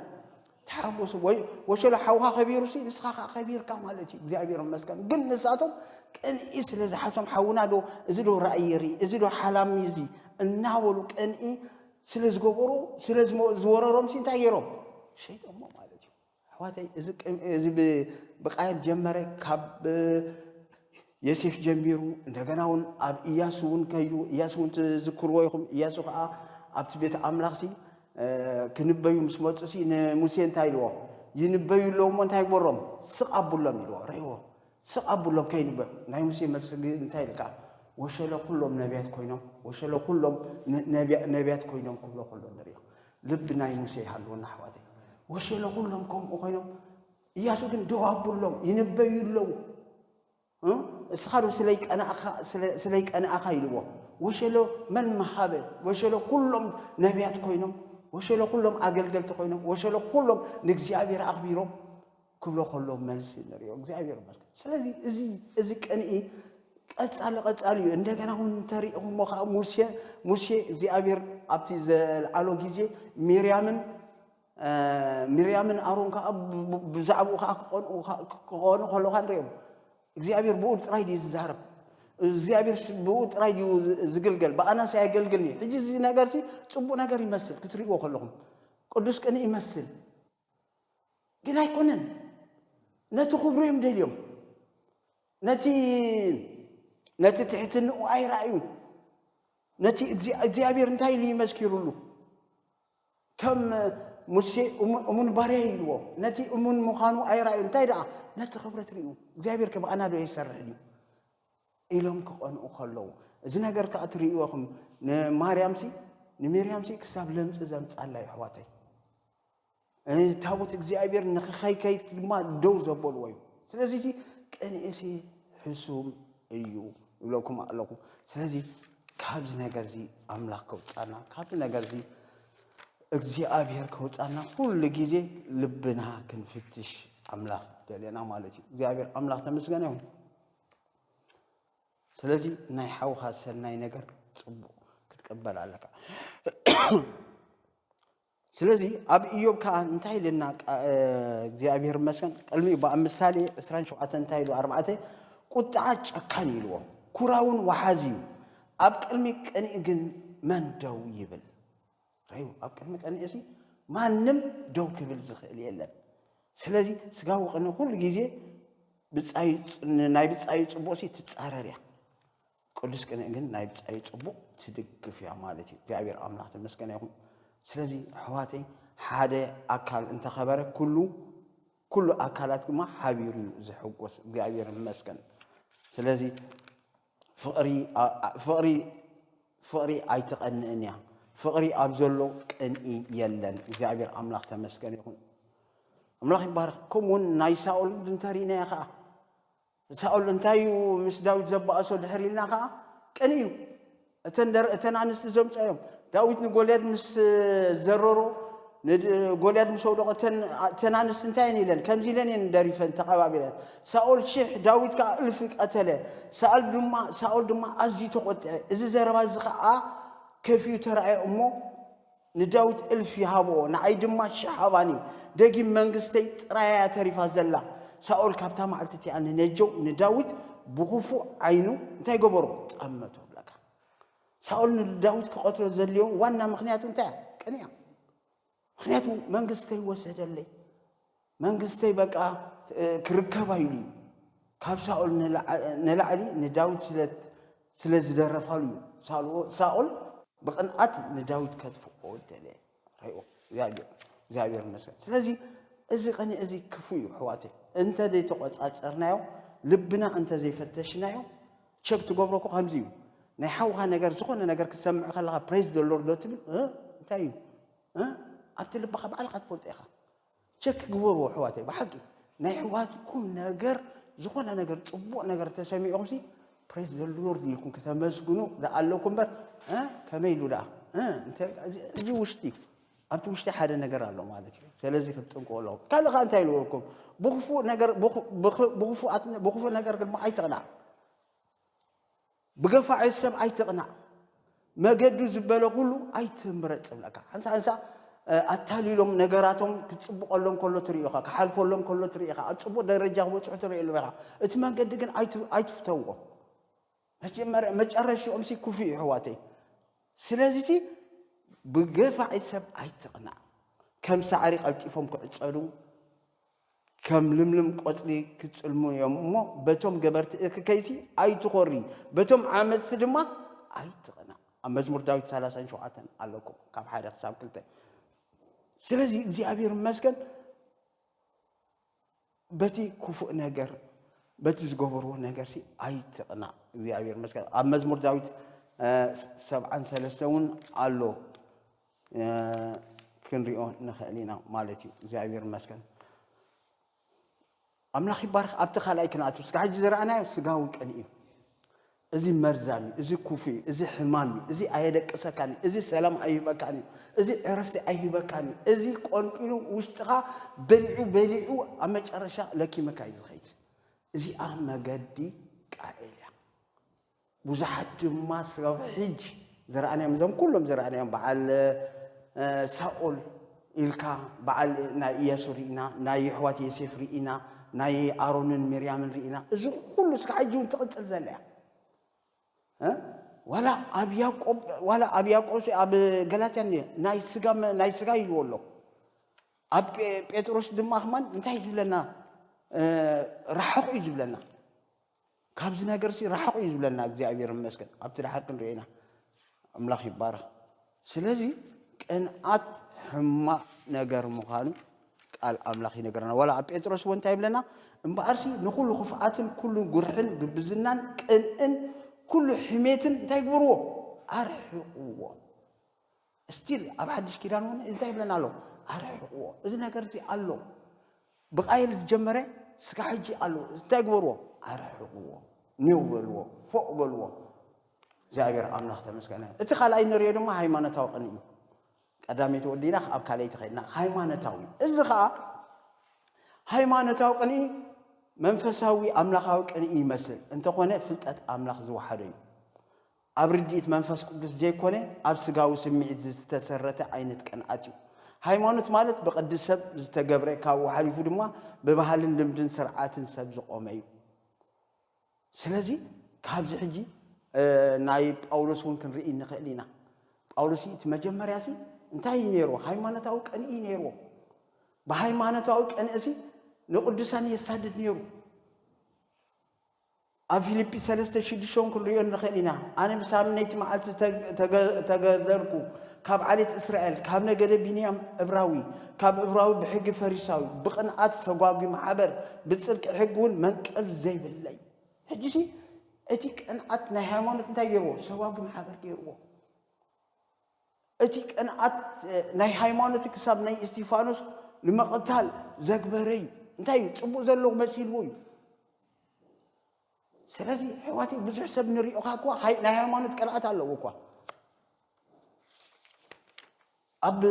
ተሓጎሱ ወይ ወሸሎ ሓውካ ከቢሩሲ ንስኻ ከዓ ከቢርካ ማለት እዩ እግዚኣብሔር መስገን ግን ንሳቶም ቅንኢ ስለ ዝሓሶም ሓውና ዶ እዚ ዶ ራእይ የርኢ እዚ ዶ ሓላሚ እዚ እናበሉ ቅንኢ ስለ ዝገበሩ ስለ ዝወረሮም ሲ እንታይ ገይሮም ሸይጦሞ ማለት እዩ ኣሕዋተይ እዚ ብቃየል ጀመረ ካብ የሴፍ ጀሚሩ እንደገና እውን ኣብ እያሱ እውን ከዩ እያሱ እውን ትዝክርዎ ይኹም እያሱ ከዓ ኣብቲ ቤት ኣምላኽ ሲ ክንበዩ ምስ መፁ ሲ ንሙሴ እንታይ ኢልዎ ይንበዩ ኣለዎ እሞ እንታይ ግበሮም ስቕ ኣቡሎም ኢልዎ ረይዎ ስቅ ኣብሎም ከይንበል ናይ ሙሴ መልሲ ግን እንታይ ኢልካ ወሸለ ኩሎም ነብያት ኮይኖም ወሸለ ኩሎም ነብያት ኮይኖም ክብሎ ከሎ ንሪኦ ልቢ ናይ ሙሴ ይሃልወና ኣሕዋተይ ወሸለ ኩሎም ከምኡ ኮይኖም እያሱ ግን ደው ኣብሎም ይንበዩ ኣለዉ እስኻ ዶ ስለይ ቀናእኻ ስለይ ቀናእኻ ኢልዎ ወሸሎ መን መሃበ ወሸሎ ኩሎም ነቢያት ኮይኖም ወሸሎ ኩሎም ኣገልገልቲ ኮይኖም ወሸሎ ኩሎም ንእግዚኣብሔር ኣኽቢሮም ክብሎ ከሎ መልሲ ንሪኦ እግዚኣብሔር ይመስገን። ስለዚ እዚ እዚ ቅንኢ ቀጻሊ ቀጻሊ እዩ። እንደገና እውን እንተሪኢኹሞ ከዓ ሙሴ ሙሴ እግዚኣብሔር ኣብቲ ዘልዓሎ ግዜ ሚርያምን አ፣ ሚርያምን ኣሮን ከዓ ብ- ብ- ብዛዕባኡ ከዓ ክቐንኡ ከ- ክኾኑ ከለካ ንሪኦም እግዚኣብሔር ብኡ ጥራይ ድዩ ዝዛረብ እግዚኣብሔር ስ- ብኡ ጥራይ ድዩ ዝ- ዝግልገል ብኣናሲ ኣየገልግልን እዩ ሕጂ እዚ ነገር ሲ ፅቡቅ ነገር ይመስል ክትሪእዎ ከለኹም ቅዱስ ቅንኢ ይመስል ግን ኣይኮነን ነቲ ክብሩ እዮም ደልዮም ነቲ ነቲ ትሕትንኡ ኣይረኣዩ ነቲ እግዚኣብሔር እንታይ ኢሉ ይመስኪሩሉ ከም ሙሴ እሙን ባርያ ኢልዎ ነቲ እሙን ምዃኑ ኣይረኣዩ እንታይ ደኣ ነቲ ክብረት ርዩ እግዚኣብሔር ከብኣና ዶ ይሰርሕን እዩ ኢሎም ክቐንኡ ከለዉ እዚ ነገር ከዓ እትርእይዎኹም ንማርያምሲ ንሚርያምሲ ክሳብ ለምፂ ዘምፃላ ይሕዋተይ ታቦት እግዚኣብሔር ንክኸይከይድ ድማ ደው ዘበልዎ እዩ ስለዚ እቲ ቅንእሲ ሕሱም እዩ ይብለኩም ኣለኹ ስለዚ ካብዚ ነገር እዚ ኣምላኽ ከውፃና ካብዚ ነገር እዚ እግዚኣብሔር ከውፃና ኩሉ ግዜ ልብና ክንፍትሽ ኣምላኽ ደልየና ማለት እዩ እግዚኣብሔር ኣምላኽ ተመስገነ ይኹን ስለዚ ናይ ሓውኻ ሰናይ ነገር ፅቡቅ ክትቀበል ኣለካ ስለዚ ኣብ እዮብ ከኣ እንታይ ኢልና እግዚኣብሔር ይመስገን ቅድሚኡ ብኣብ ምሳሌ 27 እንታይ ኢሉ ኣርባዕተ ቁጥዓ ጨካን እዩ ኢልዎ ኩራውን ወሓዚ እዩ ኣብ ቅድሚ ቅንኢ ግን መን ደው ይብል ረዩ ኣብ ቅድሚ ቅንኢ ሲ ማንም ደው ክብል ዝኽእል የለን ስለዚ ስጋዊ ቅኒ ኩሉ ግዜ ናይ ብጻዩ ጽቡቕሲ ትጻረር እያ ቅዱስ ቅንኢ ግን ናይ ብጻዩ ጽቡቅ ትድግፍ እያ ማለት እዩ እግዚኣብሔር ኣምላክ ተመስገነ ይኩን ስለዚ ኣሕዋተይ ሓደ ኣካል እንተኸበረ ኩሉ ኩሉ ኣካላት ድማ ሓቢሩ እዩ ዝሕጎስ እግዚኣብሔር ይመስገን ስለዚ ፍቅሪ ፍቅሪ ፍቅሪ ኣይትቀንእን እያ ፍቅሪ ኣብ ዘሎ ቅንኢ የለን እግዚኣብሔር ኣምላክ ተመስገን ይኹን ኣምላኽ ይባረክ ከምኡውን ናይ ሳኦል እንተሪእናዮ ከዓ ንሳኦል እንታይ እዩ ምስ ዳዊት ዘባእሶ ድሕሪ ኢልና ከኣ ቅን እዩ እተን ኣንስቲ ዘምጾ እዮም ዳዊት ንጎልያድ ምስ ዘረሮ ጎልያድ ምስ ወደቆ እተን ኣንስቲ እንታይ እየን ኢለን ከምዚ ኢለን እየን ደሪፈን ተቐባቢለን ሳኦል ሽሕ ዳዊት ከዓ እልፊ ቀተለ ሳኦል ድማ ኣዝዩ ተቆጥዐ እዚ ዘረባ እዚ ከዓ ከፍዩ ተራእየ እሞ ንዳዊት እልፊ ሃብኦ ንዓይ ድማ ሽሕ ሃባኒ ደጊም መንግስተይ ጥራይ እያ ተሪፋ ዘላ ሳኦል ካብታ መዓልቲ እቲኣ ንነጀው ንዳዊት ብኽፉእ ዓይኑ እንታይ ገበሮ ጠመቶ ሳኦል ንዳዊት ክቐትሎ ዘልዮ ዋና ምክንያቱ እንታይ ቅንያ ምክንያቱ መንግስተይ ወሰደለይ መንግስተይ በቃ ክርከባ ኢሉ እዩ ካብ ሳኦል ንላዕሊ ንዳዊት ስለት ስለ ዝደረፋሉ እዩ ሳልኦ ሳኦል ብቅንኣት ንዳዊት ከትፍኦ ደለ ሪኦ እግዚኣብሔር እግዚኣብሔር ይመስገን ስለዚ እዚ ቅንኢ እዚ ክፉ እዩ ሕዋተይ እንተ ዘይተቆፃፀርናዮ ልብና እንተ ዘይፈተሽናዮ ቸክ ትገብሮ እኮ ከምዚ እዩ ናይ ሓውካ ነገር ዝኾነ ነገር ክትሰምዕ ከለካ ፕሬዝ ዶ ሎርድ ዶ ትብል እንታይ እዩ ኣብቲ ልብካ ባዕልካ ትፈልጦ ኢኻ ቸክ ግበርዎ ኣሕዋተይ ብሓቂ ናይ ኣሕዋትኩም ነገር ዝኾነ ነገር ጽቡቕ ነገር ተሰሚዑኹምሲ ፕሬዝ ዘ ሎርድ ኢልኩም ከተመስግኑ ዝኣለኩም እምበር ከመይ ኢሉ ደኣ እዚ ውሽጢ እዩ ኣብቲ ውሽጢ ሓደ ነገር ኣሎ ማለት እዩ ስለዚ ክትጥንቀቁ ኣለዎ ካልእ ከዓ እንታይ ኢልወኩም ብክፉእ ነገር ብክፉእ ነገር ድማ ኣይትቕናዕ ብገፋዒ ሰብ ኣይትቕናእ፣ መገዱ ዝበለ ኩሉ ኣይትምረጽ እብለካ። ሓንሳ ሓንሳ ኣታሊሎም ነገራቶም ክጽብቐሎም ከሎ ትርኢ ኢኻ፣ ክሓልፈሎም ከሎ ትርኢ ኢኻ፣ ኣብ ጽቡቕ ደረጃ ክበጽሑ ትርእየሎም ኢኻ። እቲ መንገዲ ግን ኣይትፍተዎ። መጀመርያ መጨረሽኦምሲ ክፉእ እዩ ኣሕዋተይ። ስለዚሲ ብገፋዒ ሰብ ኣይትቕናእ። ከም ሳዕሪ ቀልጢፎም ክዕጸዱ ከም ልምልም ቆጽሊ ክጽልሙ እዮም እሞ፣ በቶም ገበርቲ እቲ ከይሲ ኣይትኾሪ፣ በቶም ዓመጽቲ ድማ ኣይትቕናእ። ኣብ መዝሙር ዳዊት ሰላሳን ሸውዓተን ኣለኩም፣ ካብ ሓደ ክሳብ ክልተ። ስለዚ እግዚኣብሔር ይመስገን በቲ ክፉእ ነገር በቲ ዝገበርዎ ነገር ሲ ኣይትቕናእ። እግዚኣብሔር ይመስገን ኣብ መዝሙር ዳዊት ሰብዓን ሰለስተ እውን ኣሎ ክንሪኦ ንኽእል ኢና ማለት እዩ እግዚኣብሔር ይመስገን ኣምላኽ ይባርክ ኣብቲ ካልኣይ ክንኣት ስጋ ሕጂ ዝረኣናዮ ስጋዊ ቅን እዩ እዚ መርዛም እዩ እዚ ኩፉ እዩ እዚ ሕማም እዩ እዚ ኣየደቅሰካን እዩ እዚ ሰላም ኣይህበካን እዩ እዚ ዕረፍቲ ኣይህበካን እዩ እዚ ቆንጢኑ ውሽጥኻ በሊዑ በሊዑ ኣብ መጨረሻ ለኪመካ እዩ ዝኸይድ እዚኣ መገዲ ቃኤል እያ ብዙሓት ድማ ስጋብ ሕጂ ዝረኣናዮም እዞም ኩሎም ዝረኣናዮም በዓል ሳኦል ኢልካ በዓል ናይ እያሱ ርኢና ናይ የሕዋት የሴፍ ርኢና ናይ ኣሮንን ሚርያምን ርኢና እዚ ኩሉ እስካብ ሕጂ እውን ትቕፅል ዘላ እያ ዋላ ኣብ ያቆብ ዋላ ኣብ ያቆብ ኣብ ገላትያ ናይ ስጋ ናይ ስጋ ኢልዎ ኣሎ ኣብ ጴጥሮስ ድማ ከማን እንታይ እዩ ዝብለና ራሕቑ እዩ ዝብለና ካብዚ ነገርሲ ራሕቑ እዩ ዝብለና እግዚኣብሔር ይመስገን ኣብቲ ድሓር ክንሪኦ ኢና ኣምላኽ ይባረኽ ስለዚ ቅንኣት ሕማቕ ነገር ምዃኑ ቃል ኣምላኽ ይነገረና ዋላ ኣብ ጴጥሮስ እውን እንታይ ይብለና እምበኣርሲ ንኩሉ ክፍኣትን ኩሉ ጉርሕን ግብዝናን ቅንእን ኩሉ ሕሜትን እንታይ ግብርዎ ኣርሕቕዎ እስቲል ኣብ ሓድሽ ኪዳን እውን እንታይ ይብለና ኣሎ? ኣርሕቕዎ። እዚ ነገር እዚ ኣሎ። ብቃየል ዝጀመረ ስጋ ሕጂ ኣሎ። እንታይ ግበርዎ? ኣርሕቕዎ። ኔው በልዎ። ፎእ በልዎ። እግዚኣብሔር ኣምላኽ ተመስገነ። እቲ ካልኣይ ንሪኦ ድማ ሃይማኖታዊ ቅንኢ እዩ። ቀዳመይቲ ወዲና ኣብ ካልኣይቲ ከድና ሃይማኖታዊ እዚ ከዓ ሃይማኖታዊ ቅንኢ መንፈሳዊ ኣምላኻዊ ቅንኢ ይመስል እንተኾነ ፍልጠት ኣምላኽ ዝወሓደ እዩ። ኣብ ርድኢት መንፈስ ቅዱስ ዘይኮነ ኣብ ስጋዊ ስምዒት ዝዝተሰረተ ዓይነት ቅንኣት እዩ። ሃይማኖት ማለት ብቅዲ ሰብ ዝተገብረ ካብኡ ሓሊፉ ድማ ብባህልን ልምድን ስርዓትን ሰብ ዝቆመ እዩ። ስለዚ ካብዚ ሕጂ ናይ ጳውሎስ እውን ክንርኢ እንኽእል ኢና። ጳውሎስ እቲ መጀመርያ ሲ እንታይ እዩ ነይርዎ? ሃይማኖታዊ ቅንኢ እዩ ነይርዎ። ብሃይማኖታዊ ቅንእሲ ንቅዱሳን የሳድድ ነይሩ። ኣብ ፊልጲ ሰለስተ ሽዱሽተን ክንርእዮ ንኽእል ኢና። ኣነ ብሳምነይቲ መዓልቲ ተገዘርኩ፣ ካብ ዓሌት እስራኤል፣ ካብ ነገደ ቢንያም፣ እብራዊ፣ ካብ እብራዊ ብሕጊ ፈሪሳዊ፣ ብቕንኣት ሰጓጒ ማሕበር፣ ብጽድቂ ሕጊ እውን መንቀል ዘይብለይ። ሕጂሲ እቲ ቅንኣት ናይ ሃይማኖት እንታይ ገይርዎ? ሰጓጒ ማሕበር ገይርዎ። እቲ ቅንኣት ናይ ሃይማኖት ክሳብ ናይ እስቲፋኖስ ንምቕታል ዘግበረ እዩ እንታይ እዩ ፅቡቅ ዘለዎ መሲልዎ እዩ ስለዚ ሕዋትይ ብዙሕ ሰብ ንሪኦኻ እኳ ናይ ሃይማኖት ቅንኣት ኣለዎ እኳ ኣብ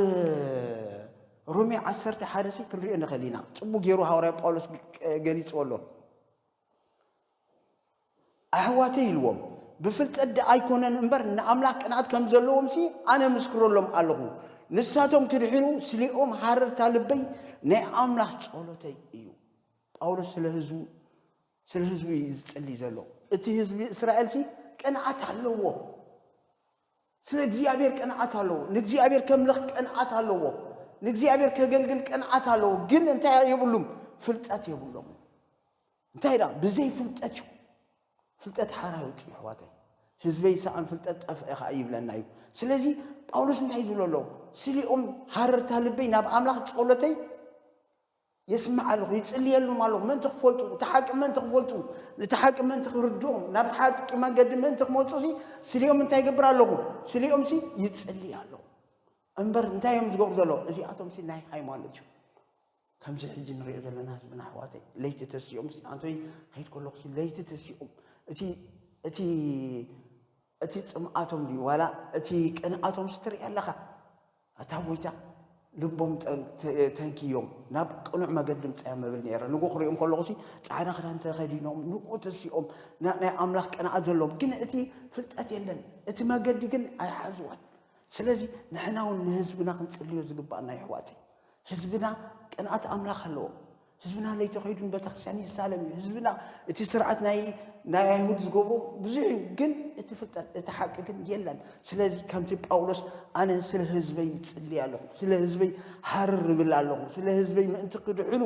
ሮሜ ዓሰርተ ሓደ ሲ ክንሪኦ ንኽእል ኢና ፅቡቅ ገይሩ ሃዋርያ ጳውሎስ ገሊፅዎ ኣሎ ኣሕዋተይ ኢልዎም ብፍልጠት ደኣ ኣይኮነን እምበር ንኣምላኽ ቅንኣት ከም ዘለዎምሲ ኣነ ምስክረሎም ኣለኹ ንሳቶም ክድሕኑ ስሌኦም ሃረርታ ልበይ ናይ ኣምላኽ ጸሎተይ እዩ ጳውሎስ ስለ ህዝቡ ስለ ህዝቡ እዩ ዝጽልይ ዘሎ እቲ ህዝቢ እስራኤልሲ ቅንኣት ኣለዎ ስለ እግዚኣብሔር ቅንዓት ኣለዎ ንእግዚኣብሔር ከምልኽ ቅንዓት ኣለዎ ንእግዚኣብሔር ከገልግል ቅንዓት ኣለዎ ግን እንታይ የብሉም ፍልጠት የብሎም እንታይ ዳ ብዘይ ፍልጠት እዩ ፍልጠት ሓራ ይውፅ እዩ ኣሕዋተይ ህዝበይ ሰኣን ፍልጠት ጠፍአ ከዓ ይብለና እዩ ስለዚ ጳውሎስ እንታይ ዝብሎ ኣለዎ ስሊኦም ሃረርታ ልበይ ናብ ኣምላኽ ጸሎተይ የስምዕ ኣለኹ፣ ይጽልየሎም ኣለኹ፣ ምእንቲ ኪፈልጡ፣ እታ ሓቂ ምእንቲ ኪፈልጡ፣ ነታ ሓቂ ምእንቲ ኺርድኦም፣ ናብታ ሓቂ መንገዲ ምእንቲ ኪመጹሲ፣ ስሊኦም እንታይ ይገብር ኣለኹ? ስሊኦምሲ ይጽልይ ኣለኹ። እምበር እንታይ እዮም ዝገብሩ ዘለዉ? እዚኣቶምሲ ናይ ሃይማኖት እዮም። ከምዚ ሕጂ ንሪኦ ዘለና ህዝብና ኣሕዋተይ ለይቲ ተሲኦም ኣንቶይ ከይድ ከለኹሲ ለይቲ ተሲኦም እቲ እቲ እቲ ጽምኣቶም ድዩ ዋላ እቲ ቅንኣቶምስ ትርኢ ኣለኻ ኣታ ጎይታ ልቦም ተንኪዮም ናብ ቅኑዕ መገዲ ምጽያም እብል ነይረ ንጉ ክሪኦም ከለኹሲ ጻዕዳ ክዳን ተኸዲኖም ንቁ ተሲኦም ናይ ኣምላኽ ቅንኣት ዘለዎም ግን እቲ ፍልጠት የለን እቲ መገዲ ግን ኣይሓዝዋን ስለዚ ንሕና እውን ንህዝብና ክንጽልዮ ዝግባኣና ይሕዋተይ ህዝብና ቅንኣት ኣምላኽ ኣለዎ ህዝብና ለይቲ ከይዱ ንቤተክርስትያን ይሳለም እዩ ህዝብና እቲ ስርዓት ናይ ናይ ኣይሁድ ዝገብሮ ብዙሕ እዩ ግን እቲ ፍልጠት እቲ ሓቂ ግን የለን ስለዚ ከምቲ ጳውሎስ ኣነ ስለ ህዝበይ ይጽልይ ኣለኹ ስለ ህዝበይ ሃርር እብል ኣለኹ ስለ ህዝበይ ምእንቲ ክድሕኑ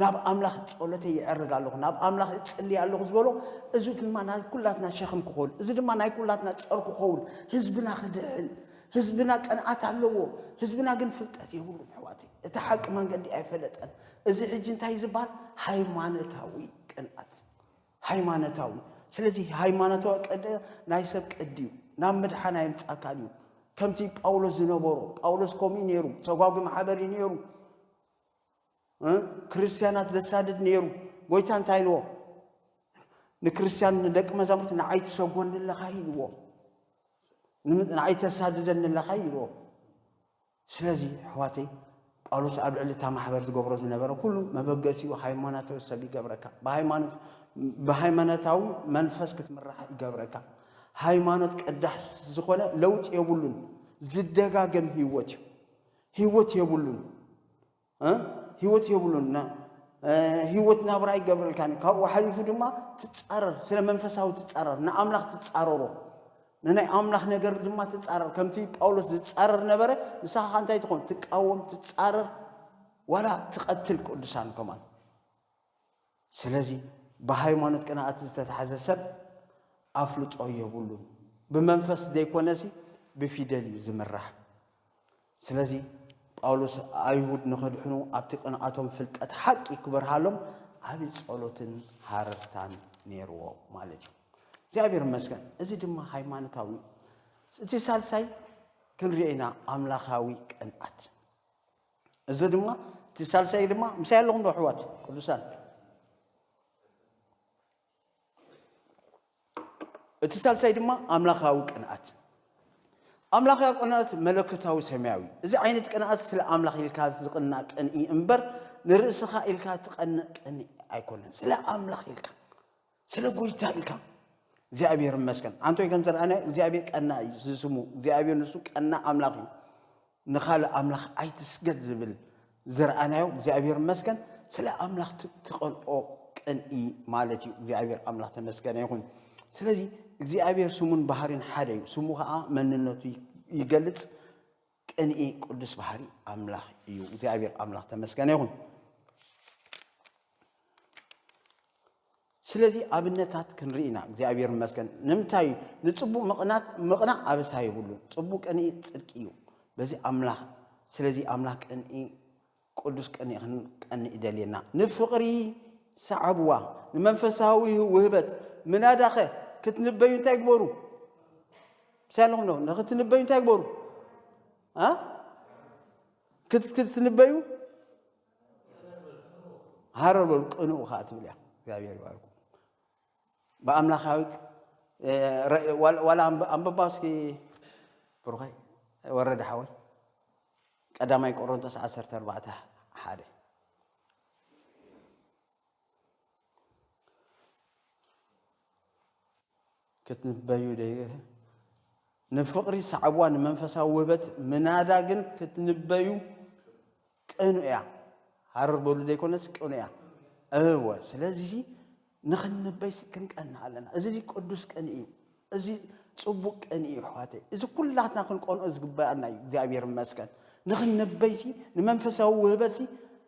ናብ ኣምላኽ ጸሎተይ ይዕርግ ኣለኹ ናብ ኣምላኽ እጽልይ ኣለኹ ዝበሎ እዚ ድማ ናይ ኩላትና ሸኽም ክኸውን እዚ ድማ ናይ ኩላትና ጸር ክኸውን ህዝብና ክድሕን ህዝብና ቅንዓት ኣለዎ ህዝብና ግን ፍልጠት የብሉን ኣሕዋተይ እቲ ሓቂ መንገዲ ኣይፈለጠን እዚ ሕጂ እንታይ ዝበሃል ሃይማኖታዊ ቅንኣት ሃይማኖታዊ ስለዚ ሃይማኖታዊ ቀደ ናይ ሰብ ቀዲ እዩ ናብ ምድሓን ኣየምጻካን እዩ ከምቲ ጳውሎስ ዝነበሮ ጳውሎስ ከምኡ ነይሩ ተጓጉ ማሕበር እዩ ነይሩ ክርስትያናት ዘሳድድ ነይሩ። ጎይታ እንታይ ኢልዎ? ንክርስትያን ንደቂ መዛሙርት ንዓይ ትሰጎኒ ኣለኻ ኢልዎ። ንዓይ ተሳድደኒ ኣለኻ ኢልዎ። ስለዚ ኣሕዋተይ ጳውሎስ ኣብ ልዕሊ እታ ማሕበር ዝገብሮ ዝነበረ ኩሉ መበገሲኡ ሃይማኖታዊ ሰብ ይገብረካ ብሃይማኖታዊ መንፈስ ክትምራሕ ይገብረካ ሃይማኖት ቀዳሕ ዝኾነ ለውጢ የብሉን ዝደጋገም ህይወት እዩ ህይወት የብሉን ህይወት የብሉና ህይወት ናብራ ኣይገብረልካን ካብኡ ሓሊፉ ድማ ትፃረር ስለ መንፈሳዊ ትፃረር ንኣምላኽ ትፃረሮ ንናይ ኣምላኽ ነገር ድማ ትፃረር ከምቲ ጳውሎስ ዝፃረር ነበረ ንስኻ ከ እንታይ ትኾን ትቃወም ትፃረር ዋላ ትቐትል ቅዱሳን ከማን ስለዚ ብሃይማኖት ቅንኣት ዝተታሕዘ ሰብ ኣፍልጦ የብሉን። ብመንፈስ ዘይኮነሲ ብፊደል እዩ ዝምራሕ። ስለዚ ጳውሎስ ኣይሁድ ንኸድሕኑ ኣብቲ ቅንኣቶም ፍልጠት ሓቂ ክበርሃሎም ዓብዪ ጸሎትን ሃረርታን ነይርዎ ማለት እዩ። እግዚኣብሔር ይመስገን እዚ ድማ ሃይማኖታዊ እቲ ሳልሳይ ክንሪኦ ኢና ኣምላኻዊ ቅንኣት እዚ ድማ እቲ ሳልሳይ ድማ ምሳይ ኣለኹም ዶ ኣሕዋት ቅዱሳን እቲ ሳልሳይ ድማ ኣምላኻዊ ቅንኣት ኣምላኻዊ ቅንኣት መለኮታዊ ሰማያዊ እዚ ዓይነት ቅንኣት ስለ ኣምላኽ ኢልካ ዝቕና ቅንኢ እምበር ንርእስኻ ኢልካ ትቐንእ ቅንኢ ኣይኮነን ስለ ኣምላኽ ኢልካ ስለ ጎይታ ኢልካ እግዚኣብሔር ይመስገን ኣንቶይ ከም ዘረኣናዮ እግዚኣብሔር ቀና እዩ ዝስሙ እግዚኣብሔር ንሱ ቀና ኣምላኽ እዩ ንካልእ ኣምላኽ ኣይትስገድ ዝብል ዝረኣናዮ እግዚኣብሔር ይመስገን ስለ ኣምላኽ ትቐንኦ ቅንኢ ማለት እዩ እግዚኣብሔር ኣምላኽ ተመስገነ ይኹን ስለዚ እግዚኣብሔር ስሙን ባህሪን ሓደ እዩ ስሙ ከዓ መንነቱ ይገልፅ ቅንኢ ቅዱስ ባህሪ ኣምላኽ እዩ። እግዚኣብሔር ኣምላኽ ተመስገነ ይኹን። ስለዚ ኣብነታት ክንርኢ ኢና እግዚኣብሔር መስገን ንምንታይ ንፅቡቅ ምቕናት ምቕናእ ኣበሳ ይብሉ ፅቡቅ ቅንኢ ፅድቂ እዩ በዚ ኣምላኽ ስለዚ ኣምላኽ ቅንኢ ቅዱስ ቅንኢ ክንቀንእ ይደልየና። ንፍቕሪ ሰዓብዋ፣ ንመንፈሳዊ ውህበት። ምናዳኸ ክትንበዩ እንታይ ግበሩ? ምስ ኣለኹም ዶ ንክትንበዩ እንታይ ግበሩ? ክትንበዩ ሃረር በሉ፣ ቅንኡ ከዓ ትብል እያ። እግዚኣብሔር ይባርኩ። ብኣምላኻዊ ዋላ ኣንበባ እስኪ ብሩኸይ ወረደ ሓወይ ቀዳማይ ቆሮንቶስ ዓሰርተ ኣርባዕተ ሓደ ክትንበዩ ደይ ንፍቕሪ ሰዓብዋ ንመንፈሳዊ ውህበት ምናዳ ግን ክትንበዩ ቅኑ እያ ሃረር በሉ ዘይኮነስ ቅኑ እያ እወ ስለዚ ንኽንበይሲ ክንቀንእ ኣለና። እዚ እዚ ቅዱስ ቅንኢ እዩ። እዚ ጽቡቅ ቅንኢ እዩ ኣሕዋተይ። እዚ ኩላትና ክንቀንኦ ዝግበኣና እዩ። እግዚኣብሔር ይመስገን። ንኽንበይሲ ንመንፈሳዊ ውህበትሲ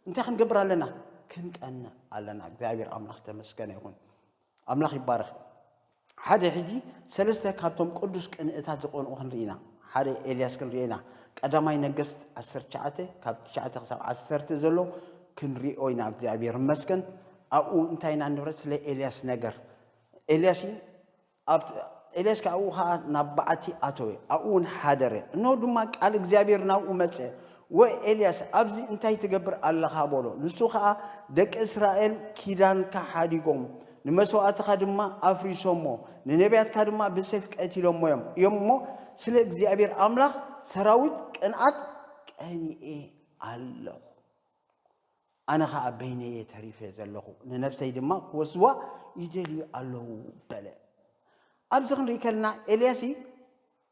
እንታይ ክንገብር ኣለና? ክንቀንእ ኣለና። እግዚኣብሔር ኣምላኽ ተመስገነ ይኹን። ኣምላኽ ይባረኽ። ሓደ ሕጂ ሰለስተ ካብቶም ቅዱስ ቅንእታት ዝቐንኡ ክንርኢ ኢና። ሓደ ኤልያስ ክንሪኦ ኢና። ቀዳማይ ነገስት ዓሰርተ ትሽዓተ ካብ ትሽዓተ ክሳብ ዓሰርተ ዘሎ ክንሪኦ ኢና እግዚኣብሔር ይመስገን። ኣብኡ እንታይ ኢና ንብረት ስለ ኤልያስ ነገር ኤልያስ ኣብ ኤልያስ ከዓ ኣብኡ ከዓ ናብ በዓቲ ኣተወ ኣብኡ እውን ሓደረ እነሆ ድማ ቃል እግዚኣብሔር ናብኡ መፀ ወኤልያስ ኣብዚ እንታይ ትገብር ኣለኻ በሎ ንሱ ከዓ ደቂ እስራኤል ኪዳንካ ሓዲጎም ንመሥዋዕትኻ ድማ ኣፍሪሶሞ፣ ንነቢያትካ ድማ ብሰይፍ ቀቲሎሞ እዮም እዮም እሞ፣ ስለ እግዚኣብሔር ኣምላኽ ሠራዊት ቅንኣት ቀኒኤ ኣለኹ። ኣነ ኸዓ በይነይ እየ ተሪፈ ዘለኹ፣ ንነፍሰይ ድማ ክወስድዋ ይደልዩ ኣለዉ በለ። ኣብዚ ክንርኢ ከለና ኤልያስ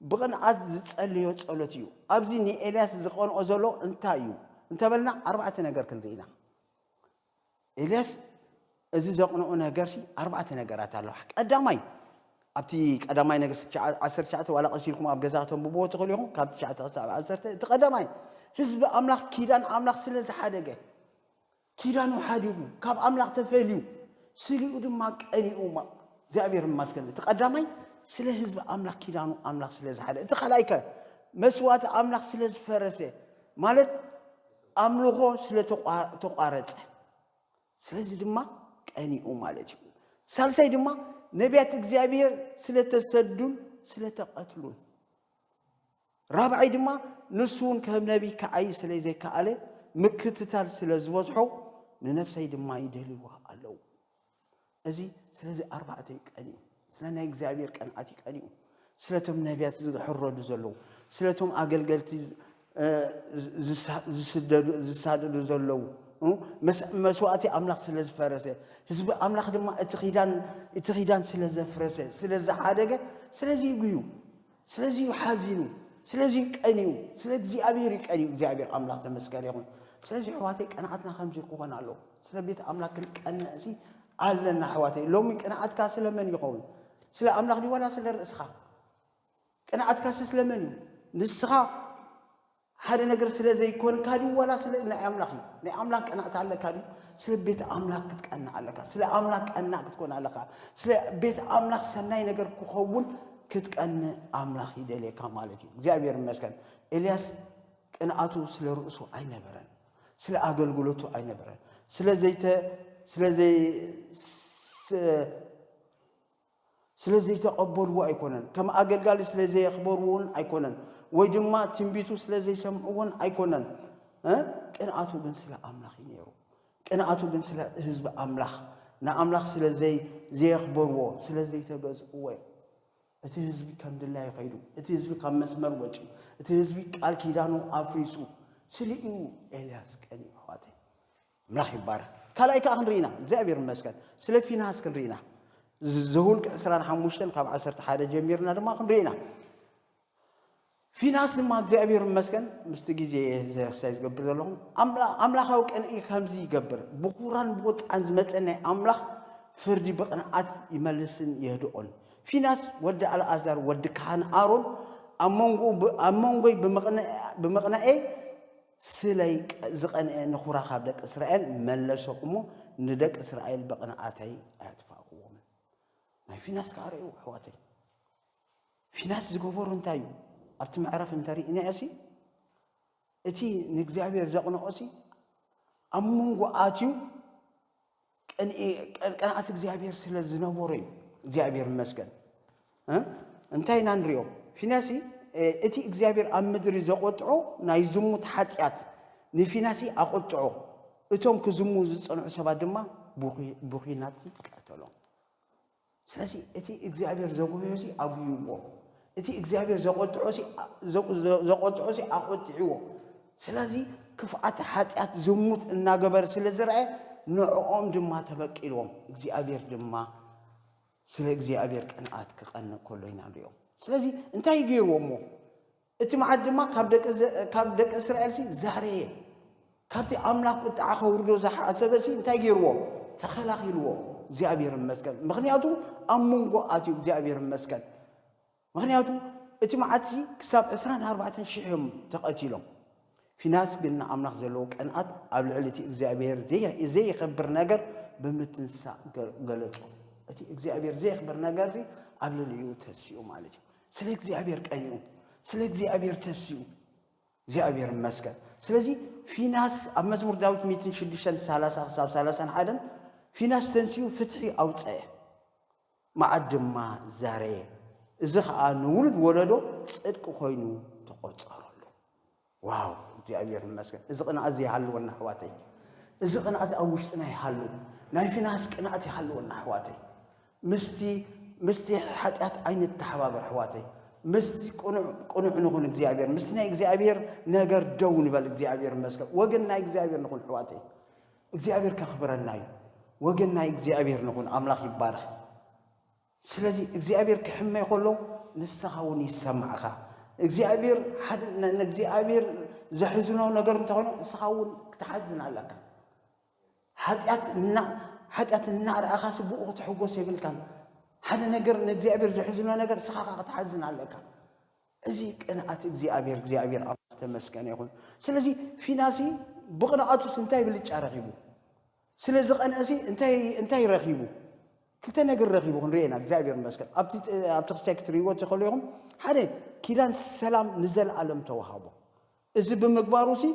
ብቕንኣት ዝጸለዮ ጸሎት እዩ። ኣብዚ ንኤልያስ ዝቐንኦ ዘሎ እንታይ እዩ እንተበልና ኣርባዕተ ነገር ክንርኢ ኢና። ኤልያስ እዚ ዘቕንኦ ነገርሲ ኣርባዕተ ነገራት ኣለዋ። ቀዳማይ ኣብቲ ቀዳማይ ነገስት ዓሰርተ ትሽዓተ ዋላ ቀስ ኢልኩም ኣብ ገዛ ከተንብብዎ ትኽእሉ ኢኹም ካብ ትሽዓተ ክሳብ ዓሰርተ እቲ ቀዳማይ ህዝቢ ኣምላኽ ኪዳን ኣምላኽ ስለ ዝሓደገ ኪዳኑ ሓዲጉ ካብ ኣምላኽ ተፈልዩ ስሊኡ ድማ ቀኒኡ እግዚኣብሔር ማስገን እቲ ቀዳማይ ስለ ህዝቢ ኣምላኽ ኪዳኑ ኣምላኽ ስለ ዝሓደ እቲ ካልኣይከ መስዋእቲ ኣምላኽ ስለ ዝፈረሰ ማለት ኣምልኾ ስለ ተቋረጸ ስለዚ ድማ ቀኒኡ ማለት እዩ። ሳልሳይ ድማ ነቢያት እግዚኣብሔር ስለ ተሰዱን ስለ ተቐትሉን። ራብዓይ ድማ ንሱ እውን ከም ነቢይ ክዓይ ስለ ዘይከኣለ ምክትታል ስለ ዝበዝሖ ንነብሰይ ድማ ይደልይዋ ኣለዉ። እዚ ስለዚ ኣርባዕተ እዩ ቀንዩ ስለ ናይ እግዚኣብሔር ቀንዓት እዩ ቀንዩ ስለቶም ነቢያት ዝሕረዱ ዘለዉ ስለቶም ኣገልገልቲ ዝሳደዱ ዘለዉ መስዋእቲ ኣምላኽ ስለ ዝፈረሰ ህዝቢ ኣምላኽ ድማ እቲ ኪዳን ስለ ዘፍረሰ ስለ ዝሓደገ ስለዚ ይጉዩ ስለዚ እዩ ሓዚኑ ስለዚ እዩ ቀንዩ ስለ እግዚኣብሔር እዩ ቀንዩ እግዚኣብሔር ኣምላኽ ተመስገን ይኹን ስለዚ ኣሕዋተይ ቀንዓትና ከምዚ ክኾን ኣለዎ ስለ ቤት ኣምላኽ ክንቀንዕ ሲ ኣለና ኣሕዋተይ ሎሚ ቅንዓትካ ስለመን ይኸውን ስለ ኣምላኽ ዲዋላ ስለ ርእስኻ ቅንዓትካሲ ስለመን እዩ ንስኻ ሓደ ነገር ስለ ዘይኮንካ ድዩ ዋላ ስለ ናይ ኣምላኽ እዩ ናይ ኣምላኽ ቀናእታ ኣለካ ድዩ ስለ ቤት ኣምላኽ ክትቀናእ ኣለካ ስለ ኣምላኽ ቀናእ ክትኮን ኣለካ ስለ ቤት ኣምላኽ ሰናይ ነገር ክኸውን ክትቀንእ ኣምላኽ ይደልየካ ማለት እዩ እግዚኣብሔር ይመስገን ኤልያስ ቅንኣቱ ስለ ርእሱ ኣይነበረን ስለ ኣገልግሎቱ ኣይነበረን ስለ ዘይተ ስለ ዘይ ስለ ዘይተቐበልዎ ኣይኮነን፣ ከም ኣገልጋሊ ስለ ዘየኽበርዎን ኣይኮነን፣ ወይ ድማ ትንቢቱ ስለ ዘይሰምዕዎን ኣይኮነን፣ እ ቅንኣቱ ግን ስለ ኣምላኽ እዩ ነይሩ። ቅንኣቱ ግን ስለ ህዝቢ ኣምላኽ ንኣምላኽ ስለ ዘየኽበርዎ ስለ ዘይተገዝእዎ እዩ። እቲ ህዝቢ ከም ድላዩ ኸይዱ፣ እቲ ህዝቢ ካብ መስመር ወፂኡ፣ እቲ ህዝቢ ቃል ኪዳኑ ኣፍሪሱ ስለ እዩ ኤልያስ ቀኒኡ። ኣሕዋተይ ኣምላኽ ይባረክ ካልኣይ ከኣ ክንርኢ ኢና እግዚኣብሔር ይመስገን ስለ ፊንሃስ ክንርኢ ኢና ዘውልቅ ዕስራን ሓሙሽተን ካብ ዓሰርተ ሓደ ጀሚርና ድማ ክንርኢ ኢና ፊናስ ድማ እግዚኣብሔር ይመስገን ምስቲ ግዜ ዘክሳይ ዝገብር ዘለኹም ኣምላኻዊ ቅንኢ ከምዚ ይገብር ብኹራን ብቁጥዓን ዝመፀ ናይ ኣምላኽ ፍርዲ ብቕንዓት ይመልስን የህድኦን ፊናስ ወዲ ኣልኣዛር ወዲ ካህን ኣሮን ኣብ መንጎይ ብምቕናኤ ስለይ ዝቀንኤ ንኩራ ካብ ደቂ እስራኤል መለሶ እሞ ንደቂ እስራኤል ብቅንኣተይ ኣየጥፋእክዎምን ናይ ፊናስ ከኣ ርኤው ኣሕዋተይ ፊናስ ዝገበሮ እንታይ እዩ ኣብቲ መዕረፍ እንተሪእናዮሲ እቲ ንእግዚኣብሔር ዘቅንኦሲ ኣብ መንጎ ኣትዩ ቅንኣት እግዚኣብሔር ስለ ዝነበሮ እዩ እግዚኣብሔር ይመስገን እንታይ ኢና ንሪኦ ፊናሲ እቲ እግዚኣብሔር ኣብ ምድሪ ዘቆጥዖ ናይ ዝሙት ሓጢኣት ንፊናሲ ኣቆጥዖ እቶም ክዝሙ ዝፀንዑ ሰባት ድማ ብኩናት ቀተሎም ስለዚ እቲ እግዚኣብሔር ዘጉህዮሲ ኣጉህይዎ፣ እቲ እግዚኣብሔር ዘቆጥዖሲ ዘቆጥዖሲ ኣቆጢዕዎ፣ ስለዚ ክፍኣት ሓጢኣት ዝሙት እናገበረ ስለ ዝረኣየ ንዕኦም ድማ ተበቂልዎም እግዚኣብሔር ድማ ስለ እግዚኣብሔር ቅንኣት ክቀንእ ከሎ ኢና ንሪኦም። ስለዚ እንታይ እዩ ገይርዎ እሞ እቲ መዓት ድማ ካብ ደቂ እስራኤልሲ ዛረየ። ካብቲ ኣምላኽ ቁጥዓ ከውርዶ ዝሓሰበሲ እንታይ ገይርዎ? ተኸላኺልዎ። እግዚኣብሔር ይመስገን። ምኽንያቱ ኣብ መንጎ ኣትዩ እግዚኣብሔር ይመስገን። ምኽንያቱ እቲ መዓትሲ ክሳብ ዕስራን ኣርባዕተን ሽሕ እዮም ተቐቲሎም። ፊናስ ግን ንኣምላኽ ዘለዎ ቅንኣት ኣብ ልዕሊ እቲ እግዚኣብሔር ዘየኸብር ነገር ብምትንሳእ ገለጾ። እቲ እግዚኣብሔር ዘየኽብር ነገርሲ ኣብ ልዕሊኡ ተሲኡ ማለት እዩ። ስለ እግዚኣብሔር ቀይሩ ስለ እግዚኣብሔር ተስኡ እግዚኣብሔር ይመስገን ስለዚ ፊናስ ኣብ መዝሙር ዳዊት 630 ክሳብ 31 ፊናስ ተንስኡ ፍትሒ ኣውፀአ መዓት ድማ ዘረየ እዚ ከዓ ንውሉድ ወለዶ ፅድቂ ኮይኑ ተቆፀረሉ ዋው እግዚኣብሔር ይመስገን እዚ ቅንኣት እዚ ይሃልወና ኣሕዋተይ እዚ ቅንኣት ኣብ ውሽጥና ይሃሉ ናይ ፊናስ ቅንኣት ይሃልወና ኣሕዋተይ ምስቲ ምስቲ ሓጢኣት ኣይንተሓባበር ኣሕዋተይ ምስቲ ቅኑዕ ንኹን እግዚኣብሔር ምስቲ ናይ እግዚኣብሔር ነገር ደው ንበል እግዚኣብሔር ይመስገን ወገን ናይ እግዚኣብሔር ንኹን ኣሕዋተይ እግዚኣብሔር ከኽብረና እዩ ወገን ናይ እግዚኣብሔር ንኹን ኣምላኽ ይባረኽ ስለዚ እግዚኣብሔር ክሕመይ ከሎ ንስኻ እውን ይሰማዕኻ እግዚኣብሔር ንእግዚኣብሔር ዘሕዝኖ ነገር እንተኾይኑ ንስኻ እውን ክትሓዝን ኣለካ ሓጢኣት እና ሓጢኣት እናርኣኻ ስብኡ ክትሕጎስ የብልካን ሓደ ነገር ንእግዚኣብሔር ዘሕዝኖ ነገር ንስኻ ካ ክትሓዝን ኣለካ እዚ ቅንኣት እግዚኣብሔር እግዚኣብሔር ኣምላኽ ተመስገነ ይኹን ስለዚ ፊናሲ ብቕንኣቱስ እንታይ ብልጫ ረኺቡ ስለ ዝቐንዐሲ እንታይ እንታይ ረኺቡ ክልተ ነገር ረኺቡ ክንሪኦ ኢና እግዚኣብሔር ይመስገን ኣብቲ ኣብቲ ክስታይ ክትርእይዎ ትኽእሉ ኢኹም ሓደ ኪዳን ሰላም ንዘለኣለም ተዋሃቦ እዚ ብምግባሩ ሲ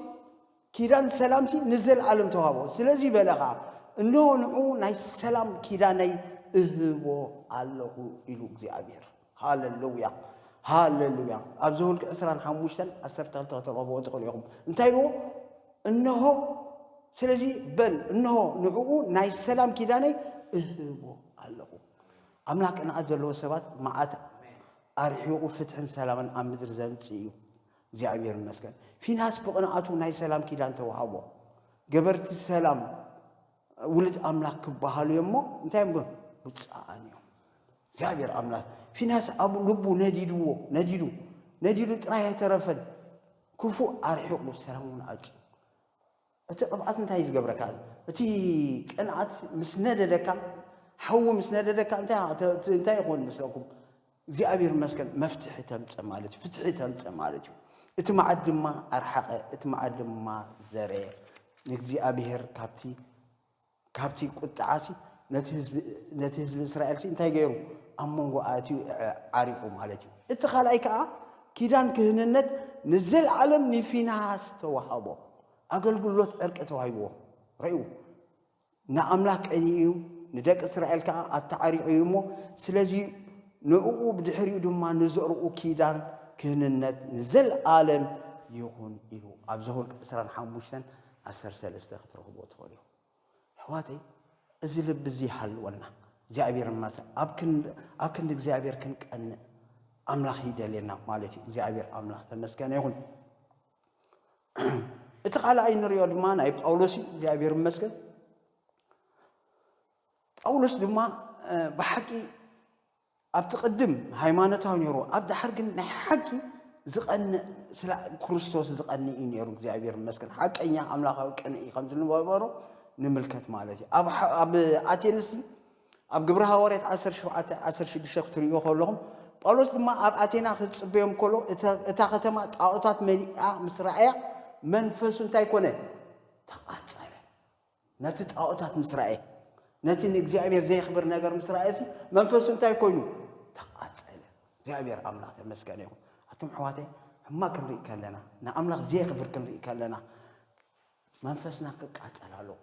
ኪዳን ሰላም ሲ ንዘለኣለም ተዋሃቦ ስለዚ በለ ኸዓ እንሆ ንዑ ናይ ሰላም ኪዳነይ እህቦ ኣለኹ ኢሉ እግዚኣብሔር ሃለሉያ ሃለሉያ ኣብ ዘውልቂ ዕስራን ሓሙሽተን ዓሰርተ ክልተ ከተንብብዎ ትኽእሉ ኢኹም እንታይ ብዎ እነሆ ስለዚ በል እነሆ ንዕኡ ናይ ሰላም ኪዳነይ እህቦ ኣለኹ ኣምላኽ ቅንኣት ዘለዎ ሰባት መዓት ኣርሒቑ ፍትሕን ሰላምን ኣብ ምድሪ ዘምፅእ እዩ እግዚኣብሔር ይመስገን ፊናስ ብቕንኣቱ ናይ ሰላም ኪዳን ተዋሃቦ ገበርቲ ሰላም ውሉድ ኣምላኽ ክበሃሉ እዮም እሞ እንታይ እዮም ግን ውፅኣን እዮም እግዚኣብሔር ኣምላኽ ፊናስ ኣብ ልቡ ነዲድዎ ነዲዱ ነዲዱ ጥራይ ኣይተረፈን ክፉ ኣርሒቑ ሰላም እውን ኣጭ እቲ ቅብኣት እንታይ እዩ ዝገብረካ እቲ ቅንኣት ምስ ነደደካ ሓዊ ምስ ነደደካ እንታይ ይኾን መስለኩም እግዚኣብሔር ይመስገን መፍትሒ ተምፀ ማለት እዩ ፍትሒ ተምፀ ማለት እዩ እቲ መዓት ድማ ኣርሓቐ እቲ መዓት ድማ ዘረየ ንእግዚኣብሔር ካብቲ ካብቲ ቁጥዓሲ ነቲ ህዝቢ እስራኤልሲ እንታይ ገይሩ ኣብ መንጎ ኣትዩ ዓሪቑ ማለት እዩ እቲ ካልኣይ ከዓ ኪዳን ክህንነት ንዘለዓለም ንፊናሃስ ተዋሃቦ ኣገልግሎት ዕርቂ ተዋሂብዎ ረእዩ ንኣምላኽ ቀንዩ እዩ፣ ንደቂ እስራኤል ከኣ ኣተዓሪቑ እዩ እሞ፣ ስለዚ ንእኡ ብድሕሪኡ ድማ ንዘርኡ ኪዳን ክህንነት ንዘልኣለም ይኹን ኢሉ ኣብ ዘሁልቅ ዕስራን ሓሙሽተን ዓሰርተ ሰለስተ ክትረኽብዎ ትኽእሉ ኢኹም። ኣሕዋተይ እዚ ልቢ እዚ ይሃልወና። እግዚኣብሔር ማሰ ኣብ ክንዲ እግዚኣብሔር ክንቀንእ ኣምላኽ ይደልየና ማለት እዩ። እግዚኣብሔር ኣምላኽ ተመስገነ ይኹን። እቲ ካልኣይ ንሪኦ ድማ ናይ ጳውሎስ እዩ እግዚኣብሔር ይመስገን ጳውሎስ ድማ ብሓቂ ኣብቲ ቅድም ሃይማኖታዊ ነይሩ ኣብ ዳሓር ግን ናይ ሓቂ ዝቐንእ ስለ ክርስቶስ ዝቐንእ እዩ ነይሩ እግዚኣብሔር ይመስገን ሓቀኛ ኣምላኻዊ ቅንኢ ከም ዝነበሮ ንምልከት ማለት እዩ ኣብ ኣቴንስ ኣብ ግብሪ ሃዋርያት ዓሰርተ ሸውዓተ ዓሰርተ ሽዱሽተ ክትርእይዎ ከለኹም፣ ጳውሎስ ድማ ኣብ ኣቴና ክጽበዮም ከሎ እታ ከተማ ጣኦታት መሊኣ ምስ ረኣያ መንፈሱ እንታይ ኮነ? ተቓጸለ። ነቲ ጣኦታት ምስ ረኣየ፣ ነቲ ንእግዚኣብሔር ዘየኽብር ነገር ምስ ረኣየሲ መንፈሱ እንታይ ኮይኑ? ተቓጸለ። እግዚኣብሔር ኣምላኽ ተመስገነ ይኹን። ኣቱም ኣሕዋተይ ሕማቅ ክንርኢ ከለና ንኣምላኽ ዘየኽብር ክንርኢ ከለና መንፈስና ክቃጸል ኣለዎ።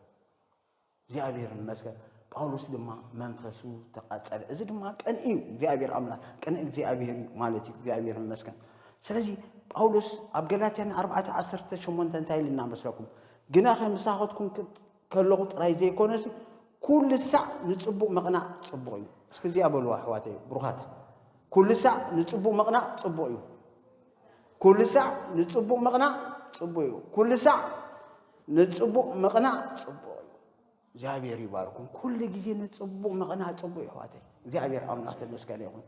እግዚኣብሔር ይመስገን ጳውሎስ ድማ መንፈሱ ተቃጸለ እዚ ድማ ቅን እዩ እግዚኣብሔር ኣምላክ ቅን እግዚኣብሔር እዩ ማለት እዩ እግዚኣብሔር ይመስገን ስለዚ ጳውሎስ ኣብ ገላትያን 4:18 እንታይ ኢልና መስለኩም ግና ከምሳኸትኩም ከለኹ ጥራይ ዘይኮነስ ኩሉ ሳዕ ንፅቡቅ ምቕናእ ፅቡቅ እዩ እስኪ እዚኣ በልዋ ኣሕዋተይ ብሩኻት ኩሉ ሳዕ ንፅቡቅ ምቕናእ ፅቡቅ እዩ ኩሉ ሳዕ ንጽቡቕ ምቕናእ ጽቡቕ እዩ። ኩሉ ሳዕ ንጽቡቕ ምቕናእ ጽቡቕ እዩ። እግዚኣብሔር ይባርኩም። ኩሉ ግዜ ንጽቡቕ ምቕናእ ጽቡቕ እዩ ኣሕዋተይ። እግዚኣብሔር ኣምላኽ ተመስገነ ይኹን።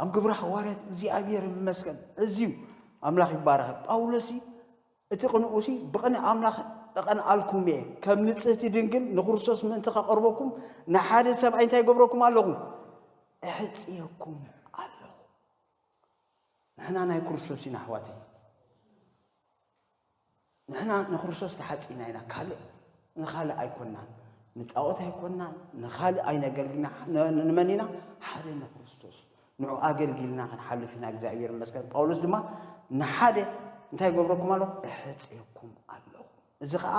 ኣብ ግብረ ሃዋርያት እግዚኣብሔር ይመስገን እዚዩ ኣምላኽ ይባረኸ ጳውሎስ እቲ ቅንኡሲ ብቕን ኣምላኽ እቐንኣልኩም እየ ከም ንጽህቲ ድንግል ንክርስቶስ ምእንቲ ከቐርበኩም ንሓደ ሰብኣይ እንታይ ይገብረኩም ኣለኹ እሕፅየኩም ኣለኹ ንሕና ናይ ክርስቶስ ኢና ኣሕዋተይ ንሕና ንክርስቶስ ተሓጺና ኢና ካልእ ንኻልእ ኣይኮናን ንጣዖት ኣይኮናን ንኻልእ ኣይነገልግልና ንመን ኢና ሓደ ንክርስቶስ ንዑ ኣገልጊልና ክንሓልፍ ኢና እግዚኣብሔር ይመስገን ጳውሎስ ድማ ንሓደ እንታይ ገብረኩም ኣለኹ እሕፅየኩም ኣለኹ እዚ ከዓ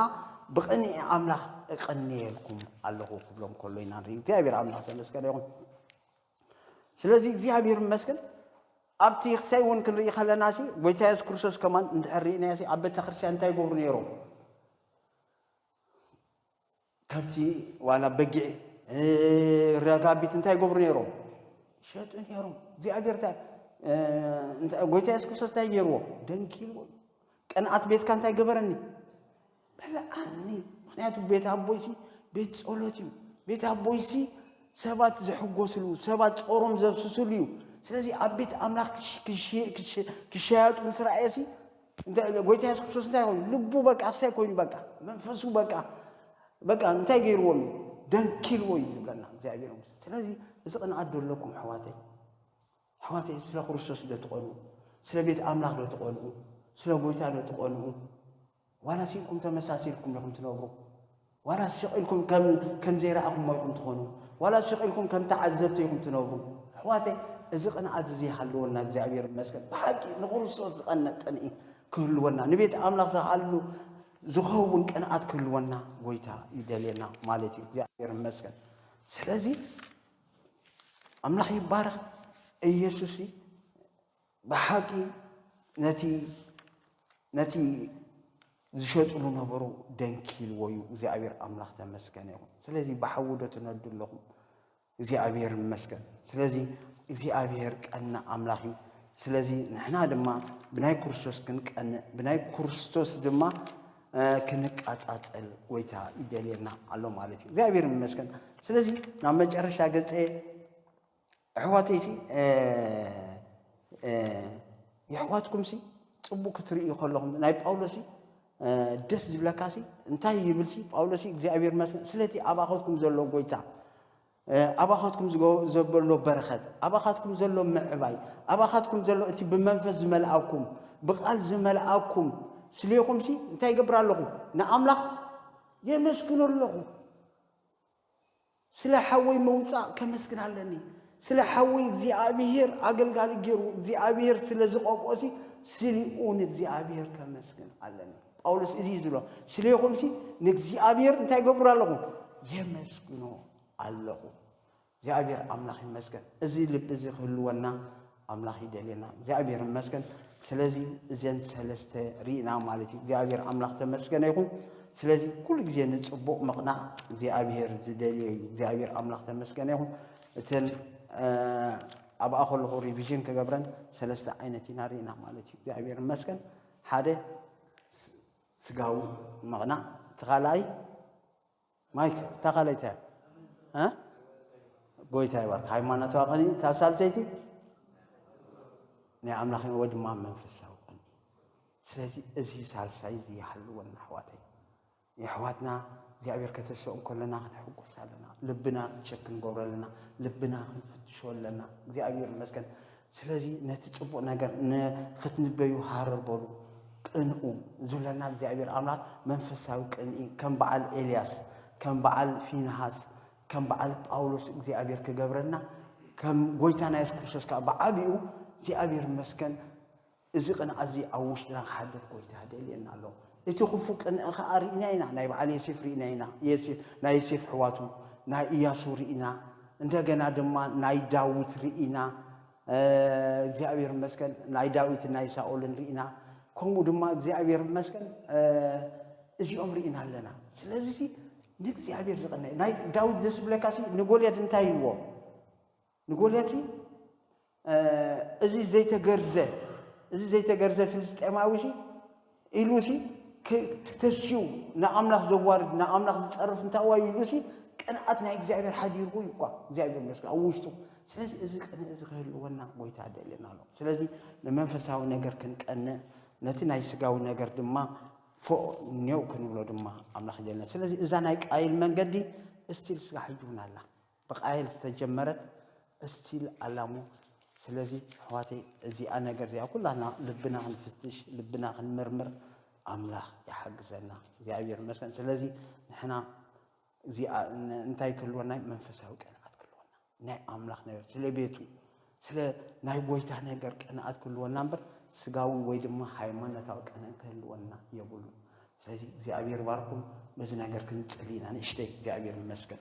ብቕንዒ ኣምላኽ እቐንየልኩም ኣለኹ ክብሎም ከሎ ኢና ንርኢ እግዚኣብሔር ኣምላኽ ተመስገነ ይኹን ስለዚ እግዚኣብሔር ይመስገን ኣብቲ ክሳይ እውን ክንርኢ ከለና ሲ ጎይታ የሱስ ክርስቶስ ከማን እንድሕር ርኢናዮ ሲ ኣብ ቤተ ክርስቲያን እንታይ ይገብሩ ነይሮም ከብቲ ዋላ በጊዕ ረጋቢት እንታይ ይገብሩ ነይሮም ይሸጡ ነይሮም እግዚኣብሔር ጎይታ የሱስ ክርስቶስ እንታይ ገይርዎ ደንኪልዎ ቅንኣት ቤትካ እንታይ ገበረኒ በልዓኒ ምክንያቱ ቤት ኣቦይሲ ቤት ጸሎት እዩ ቤት ኣቦይሲ ሰባት ዝሕጎስሉ ሰባት ጾሮም ዘብስስሉ እዩ ስለዚ ኣብ ቤት ኣምላኽ ክሸያጡ ምስ ረኣየሲ ጎይታ የሱስ ክርስቶስ እንታይ ኮይኑ ልቡ በቃ ኣሳይ ኮይኑ በቃ መንፈሱ በቃ በቃ እንታይ ገይርዎም እዩ ደንኪልዎ እዩ ዝብለና እግዚኣብሔር ምስ ስለዚ እዚ ቅንዓት ደለኩም ኣሕዋተይ ኣሕዋተይ ስለ ክርስቶስ ዶ ትቐንኡ? ስለ ቤት ኣምላኽ ዶ ትቐንኡ? ስለ ጎይታ ዶ ትቐንኡ? ዋላ ሲንኩም ተመሳሲልኩም ዲኹም ትነብሩ? ዋላ ስቕ ኢልኩም ከም ከም ዘይረኣኹሞ ኢኹም ትኾኑ? ዋላ ስቕ ኢልኩም ከም ተዓዘብቲ ኢኹም ትነብሩ? ኣሕዋተይ እዚ ቅንኣት እዚ ይሃልወና እግዚኣብሔር ይመስገን። ብሓቂ ንክርስቶስ ዝቐንእ ቅንኢ ክህልወና ንቤት ኣምላኽ ዝሃሉ ዝኸውን ቅንኣት ክህልወና ጎይታ ይደልየና ማለት እዩ። እግዚኣብሔር ይመስገን። ስለዚ ኣምላኽ ይባረኽ ኢየሱስ ብሓቂ ነቲ ነቲ ዝሸጥሉ ነበሩ ደንኪልዎ እዩ እግዚኣብሔር ኣምላኽ ተመስገነ ይኹን ስለዚ ብሓዊ ዶ ትነዱ ኣለኹም እግዚኣብሔር ይመስገን ስለዚ እግዚኣብሔር ቀና ኣምላኽ እዩ ስለዚ ንሕና ድማ ብናይ ክርስቶስ ክንቀንእ ብናይ ክርስቶስ ድማ ክንቃጻጸል ጎይታ ይደልየና ኣሎ ማለት እዩ እግዚኣብሔር ይመስገን ስለዚ ናብ መጨረሻ ገጸ ኣሕዋተይ ሲ የሕዋትኩም ሲ ጽቡቅ ክትርእዩ ከለኹም ናይ ጳውሎስ ደስ ዝብለካ ሲ እንታይ ይብል ሲ ጳውሎስ እግዚኣብሔር ይመስገን ስለቲ ኣብ ኣኸትኩም ዘሎ ጎይታ ኣባኻትኩም ዘበሎ በረኸት፣ ኣባኻትኩም ዘሎ ምዕባይ፣ ኣባኻትኩም ዘሎ እቲ ብመንፈስ ዝመልኣኩም፣ ብቓል ዝመልኣኩም ስሌኹምሲ እንታይ ይገብር ኣለኹ? ንኣምላኽ የመስግኖ ኣለኹ። ስለ ሓወይ ምውፃእ ከመስግን ኣለኒ። ስለ ሓወይ እግዚኣብሄር ኣገልጋሊ ገይሩ እግዚኣብሄር ስለ ዝቐብኦሲ ስሊኡ ንእግዚኣብሄር ከመስግን ኣለኒ። ጳውሎስ እዚ እዩ ዝብሎ ስለይኹምሲ ንእግዚኣብሔር እንታይ ገብሩ ኣለኹ የመስግኖ ኣለኹ እግዚኣብሔር ኣምላኽ ይመስገን እዚ ልቢ እዚ ክህልወና ኣምላኽ ይደልየና እግዚኣብሔር ይመስገን ስለዚ እዘን ሰለስተ ርኢና ማለት እዩ እግዚኣብሔር ኣምላኽ ተመስገነ ይኹን ስለዚ ኩሉ ግዜ ንፅቡቕ ምቕናዕ እግዚኣብሔር ዝደልዮ እዩ እግዚኣብሔር ኣምላኽ ተመስገነ ይኹን እተን ኣብኣ ከለኹ ሪቪዥን ክገብረን ሰለስተ ዓይነት ኢና ርኢና ማለት እዩ እግዚኣብሔር ይመስገን ሓደ ስጋዊ ምቕናእ እቲ ካልኣይ ማይክ እታ ካልኣይ እንታይ እያ? ጎይታ ይባርክ ሃይማኖታዊ ቅንኢ እታ ሳልሰይቲ ናይ ኣምላኽ ወይ ድማ መንፈሳዊ ቅንኢ። ስለዚ እዚ ሳልሳይ እዚ ይሃልወና ኣሕዋተይ። የሕዋትና እግዚኣብሔር ከተስኦ እንከሎና ክንሕጎስ ኣለና ልብና ቸክ ክንገብሮ ኣለና ልብና ክንፍትሾ ኣለና እግዚኣብሔር ይመስገን ስለዚ ነቲ ጽቡቅ ነገር ንክትንበዩ ሃረር በሉ ቅንኡ ዝብለና እግዚኣብሔር ኣምላክ መንፈሳዊ ቅንኢ ከም በዓል ኤልያስ ከም በዓል ፊንሃስ ከም በዓል ጳውሎስ እግዚኣብሔር ክገብረና ከም ጎይታና የሱስ ክርስቶስ ከዓ ብዓቢኡ እግዚኣብሔር ይመስገን እዚ ቅንኣትዚ ኣብ ውሽጥና ክሓድር ጎይታ ይደልየና ኣሎ። እቲ ክፉእ ቅንኢ ከኣ ርኢና ኢና፣ ናይ በዓል የሴፍ ርኢና ኢና፣ ናይ የሴፍ ኣሕዋቱ፣ ናይ እያሱ ርኢና፣ እንደገና ድማ ናይ ዳዊት ርኢና፣ እግዚኣብሔር ይመስገን ናይ ዳዊትን ናይ ሳኦልን ርኢና፣ ከምኡ ድማ እግዚኣብሔር ይመስገን እዚኦም ርኢና ኣለና። ስለዚ ንእግዚኣብሔር ዝቕነ ናይ ዳዊት ደስ ዝብለካሲ ንጎልያድ እንታይ ኢልዎ? ንጎልያድሲ እዚ ዘይተገርዘ እዚ ዘይተገርዘ ፍልስጤማዊሲ ኢሉሲ ተስዩ ንኣምላኽ ዘዋርድ ንኣምላኽ ዝጸርፍ እንታይ ዋዩ ኢሉሲ ቅንኣት ናይ እግዚኣብሔር ሓዲርዎ እዩ እኳ እግዚኣብሔር መስገን ኣብ ውሽጡ ስለዚ እዚ ቅንእ እዚ ክህልወና ጎይታ ደልና ኣሎ ስለዚ ንመንፈሳዊ ነገር ክንቀንእ ነቲ ናይ ስጋዊ ነገር ድማ ፎእ ኔው ክንብሎ ድማ ኣምላኽ ይደልና ስለዚ እዛ ናይ ቃይል መንገዲ እስቲል ስጋ ሕጂ እውን ኣላ ብቃየል ዝተጀመረት እስቲል ኣላሞ ስለዚ ኣሕዋተይ እዚኣ ነገር እዚኣ ኩላትና ልብና ክንፍትሽ ልብና ክንምርምር ኣምላኽ ይሓግዘና እግዚኣብሔር ይመስገን ስለዚ ንሕና እዚኣ እንታይ ክህልወና መንፈሳዊ ቅንኣት ክህልወና ናይ ኣምላኽ ነገር ስለ ቤቱ ስለ ናይ ጎይታ ነገር ቅንኣት ክህልወና እምበር ስጋዊ ወይ ድማ ሃይማኖታዊ ቅንእ ክህልወና የብሉ ስለዚ እግዚኣብሔር ባርኩም በዚ ነገር ክንጽል ኢና ንእሽተይ እግዚኣብሔር ይመስገን